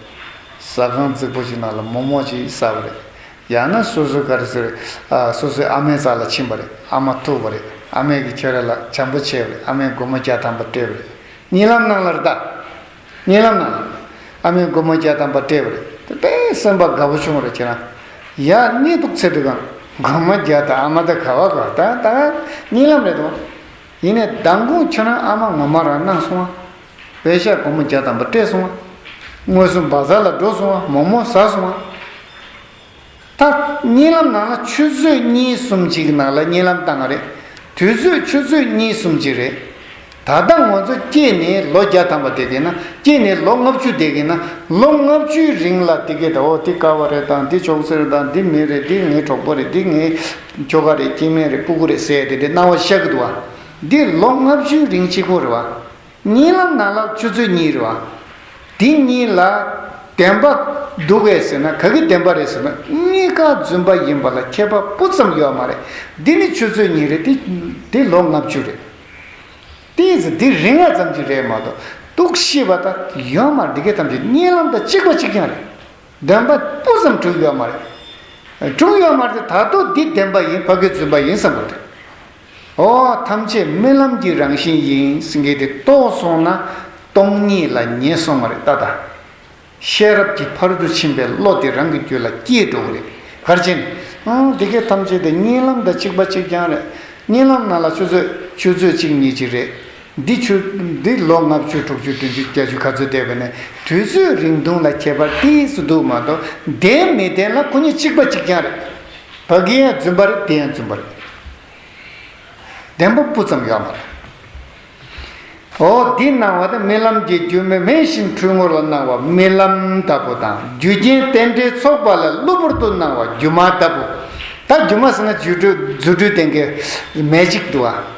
ཟ་ཁང་རྫིག་པོ་ཞིག་ནང་ལ་མོག་མོག་ཅིག་ཟ་བ་རེད། ཡང་ན་སོ་སོའི་ག་རེ་ཟེར། ཨ་སོ་སོའི་ཨ་མའི་རྩ་ལ་ཕྱིན་པ་རེད་ཨ་མ་ཐུག་པ་རེད་ཨ་མས་གིས་ཁྱེད་རང་ལ་བྱམས་པོ་བྱས་པ་རེད་ཨ་མས་སྒོར་མོ་བརྒྱ་ཐམ་པ་སྤྲད་པ་རེད་རྨྱིན་ལམ་ནང་ལ་རེད་ད། རྨི་ལམ་ན། ཨ་མའི་སྒོ་མོ་རྒྱ་དམ་པར་དཀྲིས་པར་དེ་པས་སེམས་པ་དགའ་བོ་བྱུང་རེ་ཁྱེད་རང། ཡག་རྙེད་འདུག་ཚེ་སྒྲུབ་དང་སྒོ་མོ་རྒྱ་དང་ཨ་མ་ད་ག་བ་ག་ད་ད་ག་རྙིང་ལམ་རེད་དོ། ཡིན་ནས་མདང་དགོང་ཁྱེད་རང་ཨ་མ་ངོ་མ་རང་སྣང་སོང་ཨ། བས་ཤ་སྒོ་མོ་རྒྱ་དམ་པར་དཀྲིས་སོང་ཨ། དངོས་སུ་འབའ་ས་ལ་འགྲོ་སོང་ཨ་མོག་མོག་ཟ་སོང་ཨ། ད། བརྙན་ལམ་ནང་ན་ཆུ་ཚོད་གཉིས་གསུམ་གཅིག་ནང་ལ་བརྙན་ལམ་བཏང་བ་རེད། དུས་ཚོད་ཆུ་ཚོད་གཉིས་གསུམ་གཅིག་རེད། ད་ལྟ་ངོ་ཚོ་སྐྱེས་ནས་ལོ་བརྒྱ་ཐམ་པ་འདེགས་གིན་ན་སྐྱེས་ནས་ལོ་ལྔ་བཅུ་འདེགས་གིན་ན་ལོ་ལྔ་བཅུའི་རིང་ལ་དེ་གས་ད་འོ་འདི་ཀ་བ་རེད་དང་འདི་ཅོག་ཙེ་རེད་དང་འདི་མི་རེད་འདི་ངའི་གྲོགས་པོ་རེད་འདི་ངའི་ཁྱོ་ག་རེད་སྐྱེས་དམན་རེད་སྤུ་གུ་རེད་ཟེར་ཏེ་དེ་སྣང་བ་ཤ་གི་འདུག་བ། འདི་ལོ་ལྔ་བཅུའི་རིང་གཅིག་པོ་རེད་བ། གཉིས་ལམ་ནང་ལག་ཆུ་ཚོད་གཉིས་རེད་བ། དེ་གཉིས་ལ་བདེན་པ་འདུག་གས་ཟེར་ན་ག་གི་བདེན་པ་རེད་ཟེར་ན་གཉིས་ཀ་རྫུན་པ་ཡིན་པ་ལ་ཁྱད་པ་སྤུ་ཙམ་ཡོད་མ་རེད་འདི་ནི་ཆུ་ཚོད་གཉིས་རེད་དེ་དེ་ལོ་ལྔ་བཅུ་རེད། དེའི་ཚེ་འདི་རིང་བ་ཙམ་གྱི་རེད་མ་གཏོགས་གཏུགས་ཤི་བ་དང་ཡོད་མ་རེད་འདི་གས་ཐམས་ཅད་གཉིས་ལམ་དང་གཅིག་པ་གཅིག་རྐྱང་རེད། བདེན་པ་སྤུ་ཙམ་དྲུག་ཡོད་མ་རེད། དྲུག་ཡོད་མ་རེད་ད་གཏོགས་འདི་བདེན་པ་ཡིན་ཕ་གི་རྫུན་པ་ཡིན་བསམ་དགོས་རེད། འོ་ཐམས་ཅད་རྨི་ལམ་གྱི་རང་བཞིན་ཡིན་གྱི་དེ་རྟོགས་སོང་ན་སྟོང་ཉིད་ལ་ཉེས་སོང་བ་རེད་ད་ལྟ་ཤེས་རབ་ཀྱི་བར་དུ་ཕྱིན་པའི་བློ་དེ་རང་གི་རྒྱུད་ལ་སྐྱེས་འགྲོ་གི་རེད་གར་ཆེན། ཨང་དེ་གས་ཐམས་ཅད་དེ་རྨྱིན་ལམ་དང་གཅིག་པ་གཅིག་རྐྱང་རེད་རྨྱིན་ལམ་ནང་ལ་ཆུ་ཚོད་ཆུ་ཚོད་གཅིག་གཉིས་གཅིག་རེད་འདི་ཆུ་འདི་ལོ་ལྔ་བཅུ་དྲུག་ཅུ་བདུན་ཅུ་བརྒྱད་ཅུ་ག་ཚོད་བསྡད་པ་ནས་དུས་ཚོད་རིང་ཐུང་ལ་ཁྱད་པར་ཏིས་སུ་འདུག་མ་གཏོགས་བདེན་མི་བདེན་ལ་སྐུ་ཉིད་གཅིག་པ་གཅིག་རྐྱང་རེད། བ་གི་ཡང་རྫུན་པ་རེད་དེ་ཡང་རྫུན་པ་རེད། བདེན་པ་སྤུ་ཙམ་ཡོད་མ་རེད། འོ་འདི་སྣང་བ་དང་རྨི་ལམ་གྱི་རྒྱུ་མེ་མེ་བཞིན་འཁྲུལ་ངོ་ལ་སྣང་བ་རྨི་ལམ་ལྟ་བུ་དང་རྒྱུ་རྐྱེན་རྟེན་འབྲེལ་ཚོགས་པ་ལ་གློ་བུར་དུ་སྣང་བ་སྒྱུ་མ་ལྟ་བུ། ད་སྒྱུ་མ་ཟེར་ན་རྫུ་འཕྲུལ་ལྡན་གྱི magic འདུག་ཨ།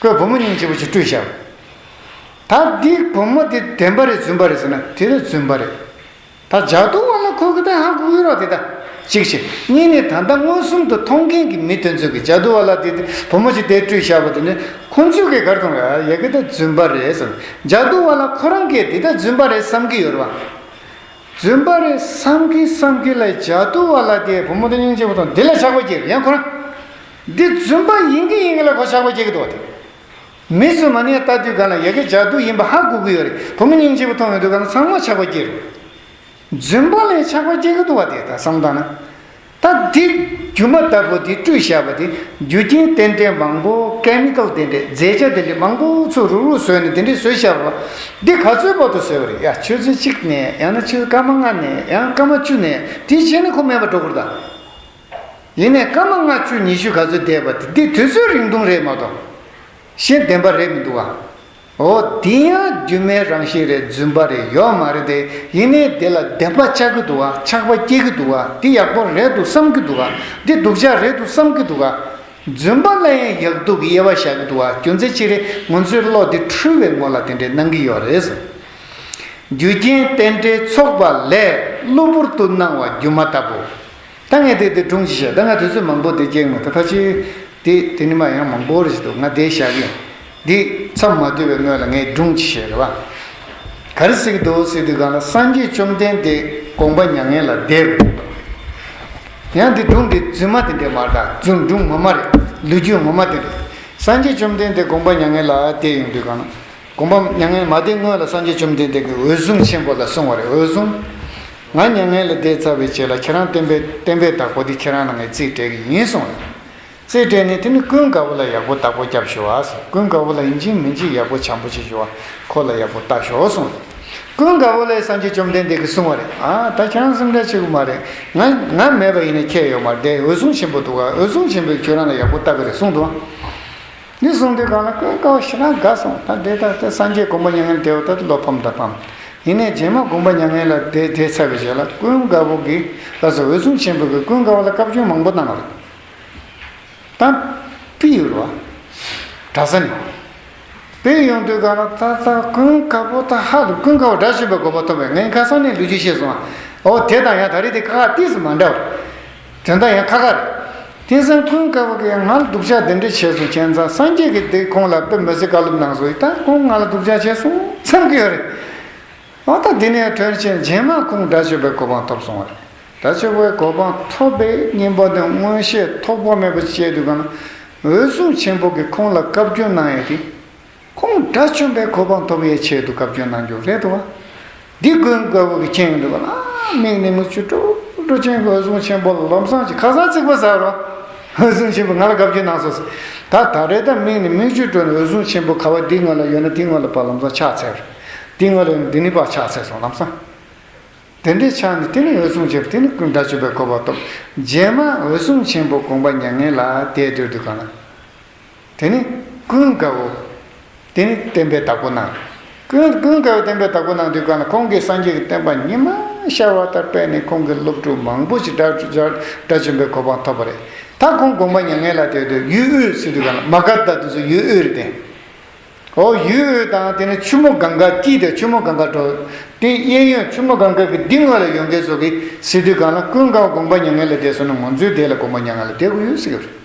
ཀོས་བུ་མོ་སྙིང་རྗེ་བོ་ཅིག་སྤྲུལ་བྱ། ད་འདི་བུ་མོ་འདི་བདེན་པ་རེད་རྫུན་པ་རེད་ཟེར་ན་དེ་ནི་རྫུན་པ་རེད། ད་ལྗགས་རྡུང་བ་ལ་ཁོ་གི་ཏན་ཧང་གི་དབུས་རོགས་དེ་ད་གཅིག་བྱེད་གཉིས་ནས་ད་ལྟ་མངོན་སུམ་དུ་མཐོང་མཁན་གི་མི་དེ་ཚོ་གི་ལྗགས་རྡུང་བ་ལ་འདི་བུ་མོ་ཅིག་དེ་སྤྲུལ་བྱ་བ་དེ་ནི་ཁོ་ཚོས་གི་གར་དུང་རེད་ཡ་གི་ད་རྫུན་པ་རེད་ཟེར་ལྗགས་རྡུང་བ་ལ་ཁོ་རང་གི་འདི་ད་རྫུན་པ་རེད་བསམ་གི་ཡོད་རེད་བ། རྫུན་པ་རེད་བསམ་གི་བསམ་གི་ལ་ལྗགས་རྡུང་བ་ལ་དེ་བུ་མོ་ཏན་སྙིང་རྗེ་བོ་དང་འདི་ལ་ཆགས་པ་གྱིས་ཡན་ཁོ་རང། འདི་རྫུན་པ་ཡིན་གི་ཡིན་གི་ལ་གོ་ཆག་པོ་སྐྱེ་གི་འདུག་བ་དེ། མི་རྫུན་མ་ནས་ལྟ་དུས་ག་ན་ཡ་གི་ཇག་སྡུག་ཡིན་པ་ཧ་གོ་གི་ཡོད་རེད་བུ་མོ་སྙིང་རྗེ་བོ་མཐོང་ཡོང་དུས་ག་ན་ཚང་མ་ཆག་པ་སྐྱེ་རུ། རྫུན་པ་ལས་ཆག་པ་སྐྱེ་གི་འདུག་བ་དེ་ད་བསམ་གདའ་ན། ད་འདི་རྒྱུ་མ་ལྟ་བུ་འདི་བཀྲུས་བཞག་པ་འདི་རྒྱུ་རྐྱེན་རྟེན་འབྲེལ་མང་པོ Chemical དེ་འདྲས་རྫས་ཆ་དེ་འདྲས་མང་པོ་ཚུར་རུག་རུག་བཟོས་ནས་དེ་འདྲས་བཟོས་བཞག་པ། འདི་ག་ཚོད་དཔག་ཏུ་བཟོས་པ་རེད་ཡ་ཆུ་ཚོད་གཅིག་ནས་ཡང་ན་ཆུ་སྐར་མ་ལྔ་ནས་ཡང་སྐར་མ་བཅུ་ནས་དེའི་རྗེས་ནས་ཁོ་མེད་པ་འགྲོ་གི་རུག་གདའ། ཡིན་ནས་སྐར་མ་ལྔ་བཅུ་ཉི་ཤུ་ག་ཚོད་འདས་པ་དེ་དུས་ཚོད་རིང་ཐུང་རེད་མ་གཏོགས། ཤེས་ལྡན་པ་རེད་མི་འདུག་ག། འོ་འདི་ཡང་སྒྱུ་མའི་རང་བཞིན་རེད་རྫུན་པ་རེད་ཡོད་མ་རེད་དེ་ཡིན་ནས་དེ་ལ་བདེན་པ་ཆགས་ཀྱི་འདུག་ག་ཆགས་པ་སྐྱེ་གི་འདུག་ག་འདི་ཡག་པོ་རེད་དུ་བསམ་གྱི་འདུག་ག་འདི་སྡུག་ཅག་རེད་དུ་བསམ་གྱི་འདུག་ག། རྫུན་པ་ལ་ཡང་ཡག་སྡུག་གི་དབྱེ་བ་བཞག་གི་འདུག་ག་རྒྱུ་མཚན་ཅི་རེད་ང་ཚོའི་བློ་འདི་འཁྲུལ་བའི་ངོ་ལ་དེ་འདྲས་སྣང་གི་ཡོད་རེད། རྒྱུ་རྐྱེན་རྟེན་འབྲེལ་ཚོགས་པ་ལས་གློ་བུར་དུ་སྣང་བ་སྒྱུ་མ་ལྟ་བུ། ད་ངས་དེ་དེ་སྒྲུང་ཞིག་བཤད་ད་ང་དུས་ཚོད་མང་པོ་འདི་སྐྱེལ་མི་ཐུབ་ཕ་ཆེའི། དེ་དེ་ནི་མ་ཡང་མང་པོ་རེད་འདུག་ང་བསྡད་བཞག་གི། འདི་མཚམས་མ་བསྡུས་པའི་སྔོན་ལ་ངས་སྒྲུང་ཅིག་བཤད་རེ་བ། ག་རེ་ཟེར་གི་འདུག་ཟེར་དུས་གང་ལ་སངས་རྒྱས་བཅོམ་ལྡན་འདས་དགོངས་པ་མྱ་ངན་ལ་བདེ་རུ་འདུག་གམ། ཡང་འདི་སྒྲུང་འདི་རྫུན་མ་དེ་འདྲས་མ་རེད་ད་རྫུན་སྒྲུང་ངོ་མ་རེད་ལུས་རྒྱུ་ངོ་མ་དེ་རེད། སངས་རྒྱས་བཅོམ་ལྡན་འདས་དགོངས་པ་མྱ་ངན་ལ་བདེ་ཡོང་དུས་གང་ན། དགོངས་པ། མྱ་ངན་མ་དེ་སྔོན་ལ་སངས་རྒྱས་བཅོམ་ལྡན་འདས་ཀྱི་འོད་སྲུང་ཆེན་པོ་ལ་གསུངས་བ་རེད་འོད་སྲུང། ང་མྱ་ངན་ལས་འདས་ཚར་བའི་རྗེས་ལ་ཁྱེད་རང་བསྟན་པའི་བསྟན་པའི་བདག་པོ་དེ་ཁྱེད་རང་ལ་ངས་རྩིས་སྤྲད་གི་ཡིན་གསུངས་བ་རེད། རྩིས་སྤྲད་ནས་དེ་ནི་ཀུན་དགའ་བོ་ལ་ཡག་པོ་བརྟག་པོ་སྐྱབས་ཞུ་བ། ཀུན་དགའ་བོ་ལ་ཡིན་གཅིག་མིན་གཅིག་ཡག་པོ་བྱམས་པོ་བྱེད་ཞུ་བ། ཁོ་ལ་ཡག་པོ་བལྟ་ཞོག་གསུངས་བ་རེད། ཀུན་དགའ་བོ་ལས་སངས་རྒྱས་བཅོམ་ལྡན་འདས་ཀྱིས་གསུངས་བ་རེད་ཨ། ད་ཁྱེད་རང་སེམས་ཁྲལ་བྱེད་དགོས་མ་རེད། ང་ང་མེད་པ་ཡིན་ན་ཁྱེད་ཡོད་མ་བསྡད་འོད་སྲུང་ཆེན་པོ་འདུག་ག་འོད་སྲུང་ཆེན་པོས་ཁྱོད་རང་ལ་ཡག་པོ་བལྟ་གི་རེད་གསུངས་དོན། འདི་གསུངས་དུས་གང་ལ་སྐད་བཀའ་བ་ཞེ་ན་དགའ་གསུངས་ད་འདྲེ་ལྟར་ཏེ་སངས་རྒྱས་དགོངས་པ་མྱ་ངན་འདས་བ་ལྟ་བུ་བློ་ཕམ་ད་ཕམ་ཡིན་ནས་རྗེས་མ་དགོངས་པ་མྱ་ངན་ལ་འདས་འདས་ཚར་བའི་རྗེས་ལ་ཀུན་དགའ་བོ་གི་ལགས་སོ་འོད་སྲུང་ཆེན་པོ་གི་ཀུན་དགའ་བ་ལ་བཀའ་བཀྱོན་མང་པོ་གནང་བ་རེད་དམ། པི་ཡུལ་བ། གྲྭ་ས་ནས། པའི་ཡོང་དུས་གང་ལ་ད་ད་ཀུན་དགའ་བོ་ད་ཧ་ལུ་ཀུན་དགའ་བོ་སྒྲ་ཞིམ་པའི་དགོས་པ་ཐོབ་པས་ངའི་ཁ་སང་ནས་ལུས་རྗེས་ཤེས་སོང་ཨོ་དེ་དང་ཡང་ད་རེས་དེ་ཁ་ཁ་ཏིས་མ་འདྲ་བ། དེ་འདྲ་ཡང་ཁ་ཁ་རེད། དེང་སང་ཁོང་སྐལ་བ་གིས་ང་ལ་སྡུག་ཅག་དེ་འདྲས་བྱས་སོང་བྱས་ཙང་སངས་རྒྱས་ཀྱི་བདེ་ཁོང་ལ་དཔེ་མི་སྲིད་བཀའ་སློབ་གནང་སོང་ཡིན་སྟབས་ཁོང་ང་ལ་སྡུག་ཅག་བྱས་སོང་བསམ་གྱི་ཡོད་རེད། འོ་ད་དེ་ནས་དོན་ཆེན་རྗེས་མ་ཁོང་དགྲ་བཅོ་པའི་གོ་འཕང་ཐོབ་སོང་བ་རེད། དགྲ་བཅོ་པའི་གོ་འཕང་ཐོབ་པའི་སྙིང་པོ་དེ་སྔོན་ཤེས་ཐོགས་པ་མེད་པ་བཅས་དུས་གང་ན་འོད་སྲུང་ཆེན་པོ་གིས་ཁོང་ལ་བཀའ་བཀྱོན་གནང་ཡོད་དེ། ཁོང་དགྲ་བཅོམ་པའི་གོ་འཕང་ཐོབ་པའི་ཆེད་དུ་བཀའ་བཀྱོན་གནང་རྒྱུ་རེད་དོ། འདི་དགོན་དགའ་བོ་གི་སྤྱན་གླུད་པ་ལ་དམིགས་ནས་མི་བཅུ་དྲུག་སྤྲོ་ཆེན་གྱི་འོད་སྲུང་ཆེན་པོ་ལམ་བཟང་གྱི་ཁ་སང་རྩིག་པ་ཟ་རོ་འོད་སྲུང་ཆེན་པོས་ང་ལ་བཀའ་བཀྱོན་གནང་སོང་ཟེར་ད་ད་རེ་ད་དམིགས་ནས་མི་བཅུ་དྲུག་ནས་འོད་སྲུང་ཆེན་པོ་ག་བ་འདི་ང་ལ་ཡོད་ན་འདི་ང་ལ་བ་ལམ་བཟང་ཕྱག་འཚལ་རོ། འདི་ང་ལ་ཡོད་ན་འདི་ནི་བ་ཕྱག་འཚལ་སོང་ལམ་བཟང། དེ་འདྲའི་ཕྱག་ནི་དེ་ནས་འོད་སྲུང་ཆེན་པོ་དེ་ནས་ཀུན་དགྲ་བཅོམ་པའི་གོ་འཕང་ཐོབ། རྗེས་མ་འོད་སྲུང་ཆེན་པོ་དགོངས་པ་མྱ་ངན་ལ་དད་འདོད་དུས་གང་ན། དེ་ནི་ཀུན་དགའ་བོ། དེ་ནི་བསྟན་པའི་བདག་པོ་གནང། ཀུན་དགའ་བོས་བསྟན་པའི་བདག་པོ་གནང་དུས་གང་ལ་ཁོང་གིས་སངས་རྒྱས་ཀྱི་བསྟན་པ་ཉི་མ་ཤར་བ་ལྟར་སྤེལ་ནས་ཁོང་གི་སློབ་ཕྲུག་མང་པོ་ཞིག་དགྲ་བཅོམ་པའི་གོ་འཕང་ཐོབ་པ་རེད། ད་ཁོང་དགོངས་པ་མྱ་ངན་ལ་དད་དུས་ཡུལ་དབུས་སུ་དུས་གང་ལ་མ་ག་དྷ་དུས་སུ་ཡུལ་དབུས་རེ་བསྟན། ཨོ་ཡུལ་དབུས་དང་དེ་ནས་ཆུ་མོ་གངྒཱ་བསྐྱིལ་ཏེ་ཆུ་མོ་གངྒཱ་བྲོ། དེའི་གཡས་གཡོན་ཆུ་མོ་གངྒཱ་གི་ལྡིང་ངོས་ལ་ཡོད་མཁན་སོགས་ཀྱིས་སྲིད་དུས་གང་ལ་ཀུན་དགའ་བོ་དགོངས་པ་མྱ་ངན་ལ་དད་སོང་ན་ང་ཚོའི་སྡེ་ལ་དགོངས་པ་མྱ་ངན་ལ་དད་དགོས་ཡོད་ཟེར་གྱི་རེད།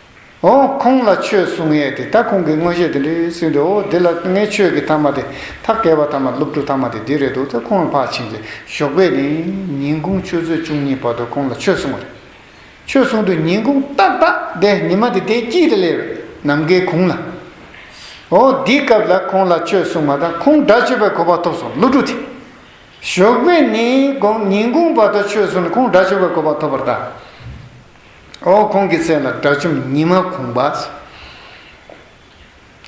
འོ། ཁོང་ལ་ཆོས་གསུང་ངེས་ཏེ་ད་ཁོང་གིས་དངོས་གཞས་དེ་འདྲི་ཟིན་འདུག་འོ་འདི་ལ་ངའི་ཆོས་ཀྱི་ཐ་མ་དེ་ཐ་གས་པ་ཐ་མ་སློབ་ཕྲུག་ཐ་མ་དེ་འདི་རེད་འདུག་ཚེ་ཁོང་ལ་ཕར་ཕྱིན་ཏེ་ཞོགས་པའི་ནི་ཉིན་གུང་ཆུ་ཚོད་བཅུ་གཉིས་བར་དུ་ཁོང་ལ་ཆོས་གསུང་བ་རེད། ཆོས་གསུང་དུས་ཉིན་གུང་ཏག་ཏག་དེ་ཉི་མ་དེ་དེའི་དཀྱིལ་དུ་སླེབས། ནམ་མཁའི་གུང་ལ། འོ་འདིའི་སྐབས་ལ་ཁོང་ལ་ཆོས་གསུང་མ་ཐག་ཁོང་དགྲ་བཅོས་པའི་གོ་བ་ཐོབ་སོང་སློབ་ཕྲུག་དེ། ཞོགས་པའི་ནི་གུང་ཉིན་གུང་བར་དུ་ཆོས་གསུང་ནས་ཁོང་དགྲ་བཅོས་པའི་གོ་བ་ཐོབ་པར་གདའ། འོ་ཁོང་གི་ཚེ་ལ་དགྲ་བཅོམ་ཉི་མ་གུང་པ།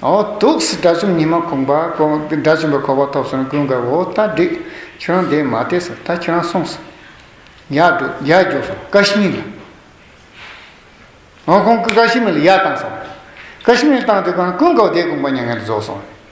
འོ་དུག་སེལ་དགྲ་བཅོམ་ཉི་མ་གུང་པ། དགྲ་བཅོམ་པའི་གོ་བ་ཐོབ་སོང་ཀུན་དགའ་བོ་ད་འགྲིག་ཁྱོད་རང་འདས་མ་འདས་སོ་ད་ཁྱོད་རང་གསུངས་སོ། ཡག་འགྲོ་ཡག་རྒྱོབ་སོང་ཀ་ཤི་མིར་ལ། འོ་ཁོང་ཀ་ཤི་མིར་ལ་ཡག་བཏང་སོང། ཀ་ཤི་མིར་བཏང་དུས་ཀུན་དགའ་བོ་འདས་གུང་པ་མྱ་ངན་ལ་རྫོགས་སོང།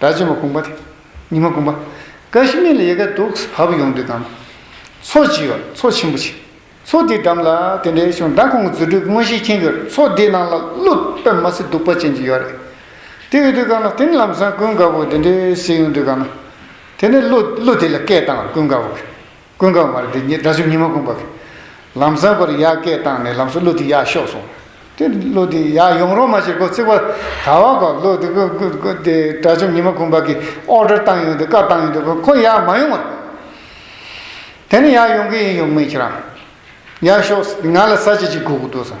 སྒྲ་ཆེན་པོ་གུང་པ། ཉི་མ་གུང་པ། ཀ་ཤི་མི་ལ་ཡེ་ག་དུག་ས་བབས་ཡོངས་འདུས་དང། མཚོ་བྱི་བ། མཚོ་ཆེན་པོ་བྱི། མཚོ་དེའི་འགྲམ་ལ་དེ་འདྲའི་ཤོང་སྦྲ་ཁོང་གི་རྫུ་འཕྲུལ་དངོས་གཞིའི་རྐྱེན་གྱིས་མཚོ་དེའི་ནང་ལ་ཀླུ་པད་མ་སེ་གདུག་པ་ཅན་གྱི་ཡོད་རེད། དེ་འོས་དུས་གང་ལ་དེ་ནི་ལམ་སང་ཀུན་དགའ་བོ་དེ་འདྲའི་ཟེར་ཡོང་དུས་གང་ན། དེ་ནི་ཀླུ་དེ་ལ་སྐད་བཏང་བར་ཀུན་དགའ་བོ། ཀུན་དགའ་བར་འདི་ཉིད་དགྲ་བཅོམ་ཉི་མ་གུང་བར། ལམ་བཟང་བར་ཡར་སྐད་བཏང་ནས་ལམ་སོགས་གླུ་དེ་ཡར་ཤོག་གསུངས། དེ་གླུ་དེ་ཡར་ཡོང་རོགས་མ་ཞེས་སྒོ་བརྩིགས་པར། ད་བར་གོ་གླུ་དེ་དགྲ་བཅོམ་ཉི་མ་གུང་བར་གྱིས་ཨོར་སྒྲར་བཏང་ཡོང་དུས་བཀའ་བཏང་ཡོང་དུས་ཁོ་ཡར་མ་ཡོང་བར། དེ་ནི་ཡར་ཡོང་གི་ཡིན་ཡོང་མིན་ཁྱེད་རང་ཡར་ཤོག་ང་ལ་ས་བྱི་གཅིག་སྒུག་གི་འདུག་བསམ།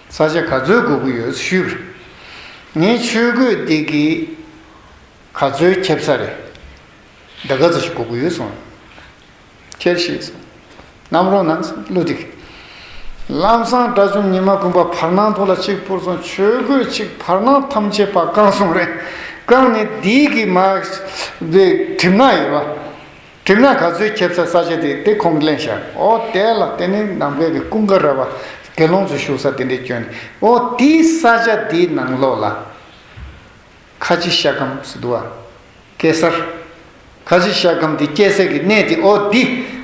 ས་ཆ་ག་ཚོད་དགོས་ཀྱི་ཡོད་ཞུས་པར། ངས་ཆོས་གོས་འདི་གི་ག་ཚོད་ཁྱབ་ས་རེད། འདི་ག་ཚོད་ཞིག་དགོས་ཀྱི་ཡོད་གསུངས། ཁྱེར་ཞེས་གསུངས། གནམ་རོང་ནང་ཀླུ་སྡིག། ལམ་བཟང་དགྲ་བཅོམ་ཉི་མ་དགོན་པ་བར་སྣང་ཐོག་ལ་གཅིག་ཕུར་སོང་ཆོས་གོས་གཅིག་བར་སྣང་ཐམས་ཅད་པར་བཀང་སོང་རེད་བཀང་ནས་སྡིག་གི་མ། གྲིབ་ནག་ཡོད་པ། དྲི་ང་ག་ཚོད་ཁྱེར་ཚ་ས་ཆ་དེ་དེ་ཁོང་གླེང་བཞག་ཨོ་དེ་ལ་དེ་ནི་ནང་པའི་གི་ཀུན་དགའ་ར་བ་དགེ་སློང་ཚོ་བཞུགས་ས་དེ་འདྲའི་སྐྱོན་ནི་ཨོ་དེ་ས་ཆ་དེའི་ནང་ལོགས་ལ། ཁ་ཆེ་ཤ་སྐམ་སི་དུ་ཨ། སྐད་སར། ཁ་ཆེ་ཤ་སྐམ་དེ་སྐྱེས་སའི་གི་གནས་དེ་ཨོ་དེ་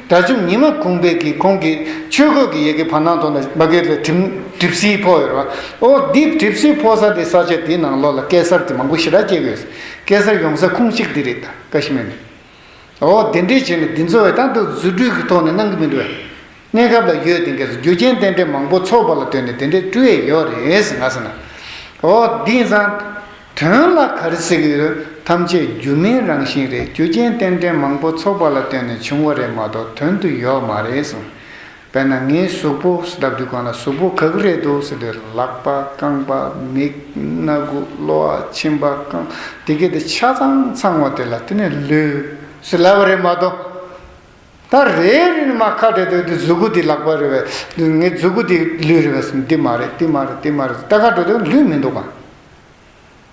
དགྲ་བཅོམ་ཉི་མ་གུང་པའི་གི་ཁོང་གི་ཆོས་གོས་གི་ཡེ་གེ་བར་སྣང་དོ་ན་བ་གེ་ལ་གྲིམ་གྲིབ་སིའི་ཕོ་ཡོ་ར་བ་ཨོ་དེ་གྲིབ་སིའི་ཕོ་ས་དེ་ས་ཆ་དེའི་ནང་ལོགས་ལ་སྐད་སར་དེ་མང་པོ་ཤི་ར་སྐྱེས་གོས་སི་སྐད་སར་ཡོང་ས་ཁུང་གཅིག་དེ་རེད་ད་ཀ་ཤི་མེ་ནི། འོ་དེ་འདྲའི་བྱས་ནས་འདི་ཚོ་བས་ད་འདུག་རྫུ་འཕྲུལ་གྱི་ཐོག་ནས་གནང་གི་མི་འདུག་བས། གནས་སྐབས་ལ་ཡོད་དེང་གས་སུ་རྒྱུ་རྐྱེན་རྟེན་འབྲེལ་མང་པོ་ཚོགས་པ་ལ་ལྟོས་ནས་དེ་འདྲའི་སྤྲུལ་ཡས་ཡོད་རེད་ང་ཟེར་ན། འོ་འདི་ཡིན་ཙང། དོན་ལ་ག་རེ་ཟེར་གི་ཡོད་རུང་ཐམས་ཅད་སྒྱུ་མའི་རང་བཞིན་རེད་རྒྱུ་རྐྱེན་རྟེན་འབྲེལ་མང་པོ་ཚོགས་པ་ལ་ལྟོས་ནས་བྱུང་བ་རེད་མ་གཏོགས་དོན་དུ་ཡོད་མ་རེད་གསུངས། དཔེར་ན་ངའི་གཟུགས་པོ་ཞེས་བརྡབ་དུས་གང་ལ་གཟུགས་པོ་ག་གི་རེད་འདུག་ཟེར་དུས་ལག་པ་རྐང་པ་མིག་སྣ་དགུ་གློ་བ་མཆིན་པ་རྐང་དེ་སྐད་དུ་ཆ་ཚང་ཚང་བ་དེ་ལ་དེ་ནི་ལུས་སུ་ལབ་པ་རེད་མ་གཏོགས། ད་རེ་རེ་ནས་མ་ཁ་བྲལ་དུས་འདི་གཟུགས་པོ་འདི་ལག་པ་རེད་བས་ངའི་གཟུགས་པོ་འདི་ལུས་རེད་བས་སམ་འདི་མ་རེད་འདི་མ་རེད་འདི་མ་རེད་ད་ཁ་བྲལ་དུས་ལུས་མི་འདུག་གམ།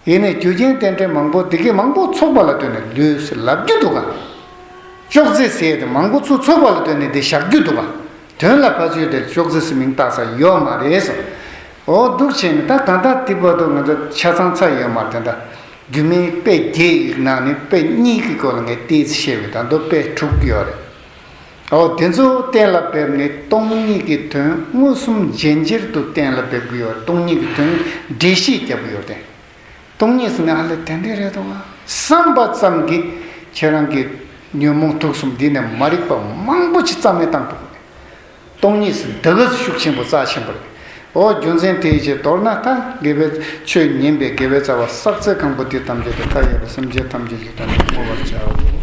ཡེ་ནས་རྒྱུ་རྐྱེན་རྟེན་འབྲེལ་མང་པོ་འདི་གས་མང་པོ་ཚོགས་པ་ལ་ལྟོས་ནས་ལུས་སེ་ལབ་རྒྱུ་འདུག་ག། ཅོག་ཙེ་སེ་དེ་མང་པོ་ཚུ་ཚོགས་པ་ལ་ལྟོས་ནས་དེ་བཞག་རྒྱུ་འདུག་ག། དོན་ལ་ཕ་ཚུལ་དེར་ཅོག་ཙེ་སེ་མིང་བཏགས་ས་ཡོད་མ་རེད་སོ། འོ་སྡུག་ཆེ་ནི་ད་གང་ལྟར་དེ་བར་དུ་ང་ཚོ་ཆ་ཚང་ཚར་ཡོད་མ་དེ་འདྲ། རྒྱུ་མའི་དཔེ་བརྒྱད་ཡིག་ནང་ནས་དཔེ་གཉིས་ཀྱི་སྐོར་ལ་ངས་བལྟས་ཚེ་ཤེས་བས་ད་མདོ་དཔེ་དྲུག་ཡོད་རེད། འོ་དེ་ཚོ་གཏན་ལ་འབེབས་ནས་སྟོང་ཉིད་ཀྱི་དོན་མངོན་སུམ་རྗེན་རྗེར་དུ་གཏན་ལ་འབེབས་གི་ཡོད་སྟོང་ཉིད་ཀྱི་དོན་འགྲེལ་བཤད་རྒྱབ་གི་ཡོད་དེ། སྟོང་ཉིད་ཟེར་ནས་ཨ་ལེ་དེ་འདྲས་རེད་དོ་བསམ་པ་ཙམ་གྱིས་ཁྱེད་རང་གི་ཉོན་མོངས་དུག་གསུམ་འདི་ནས་མ་རིག་པ་མང་པོ་ཆེ་རྩ་མེད་བཏང་ཐུབ་གི་རེད། སྟོང་ཉིད་ཟེར་འདི་ག་ཤུགས་ཆེན་པོ་རྩ་ཆེན་པོ་རེད། འོ་རྒྱུ་མཚན་དེའི་ཕྱིར་མདོར་ན་ད་དགེ་བའི་ཆོས་ཉན་པའི་དགེ་བའི་རྩ་བ་བསགས་ཚད་གང་པོ་དེ་ཐམས་ཅད་དུ་མཐའ་ཡས་པ་སེམས་ཅན་ཐམས་ཅད་ཀྱི་དོན་དུ་བསྔོ་བར་བྱའོ།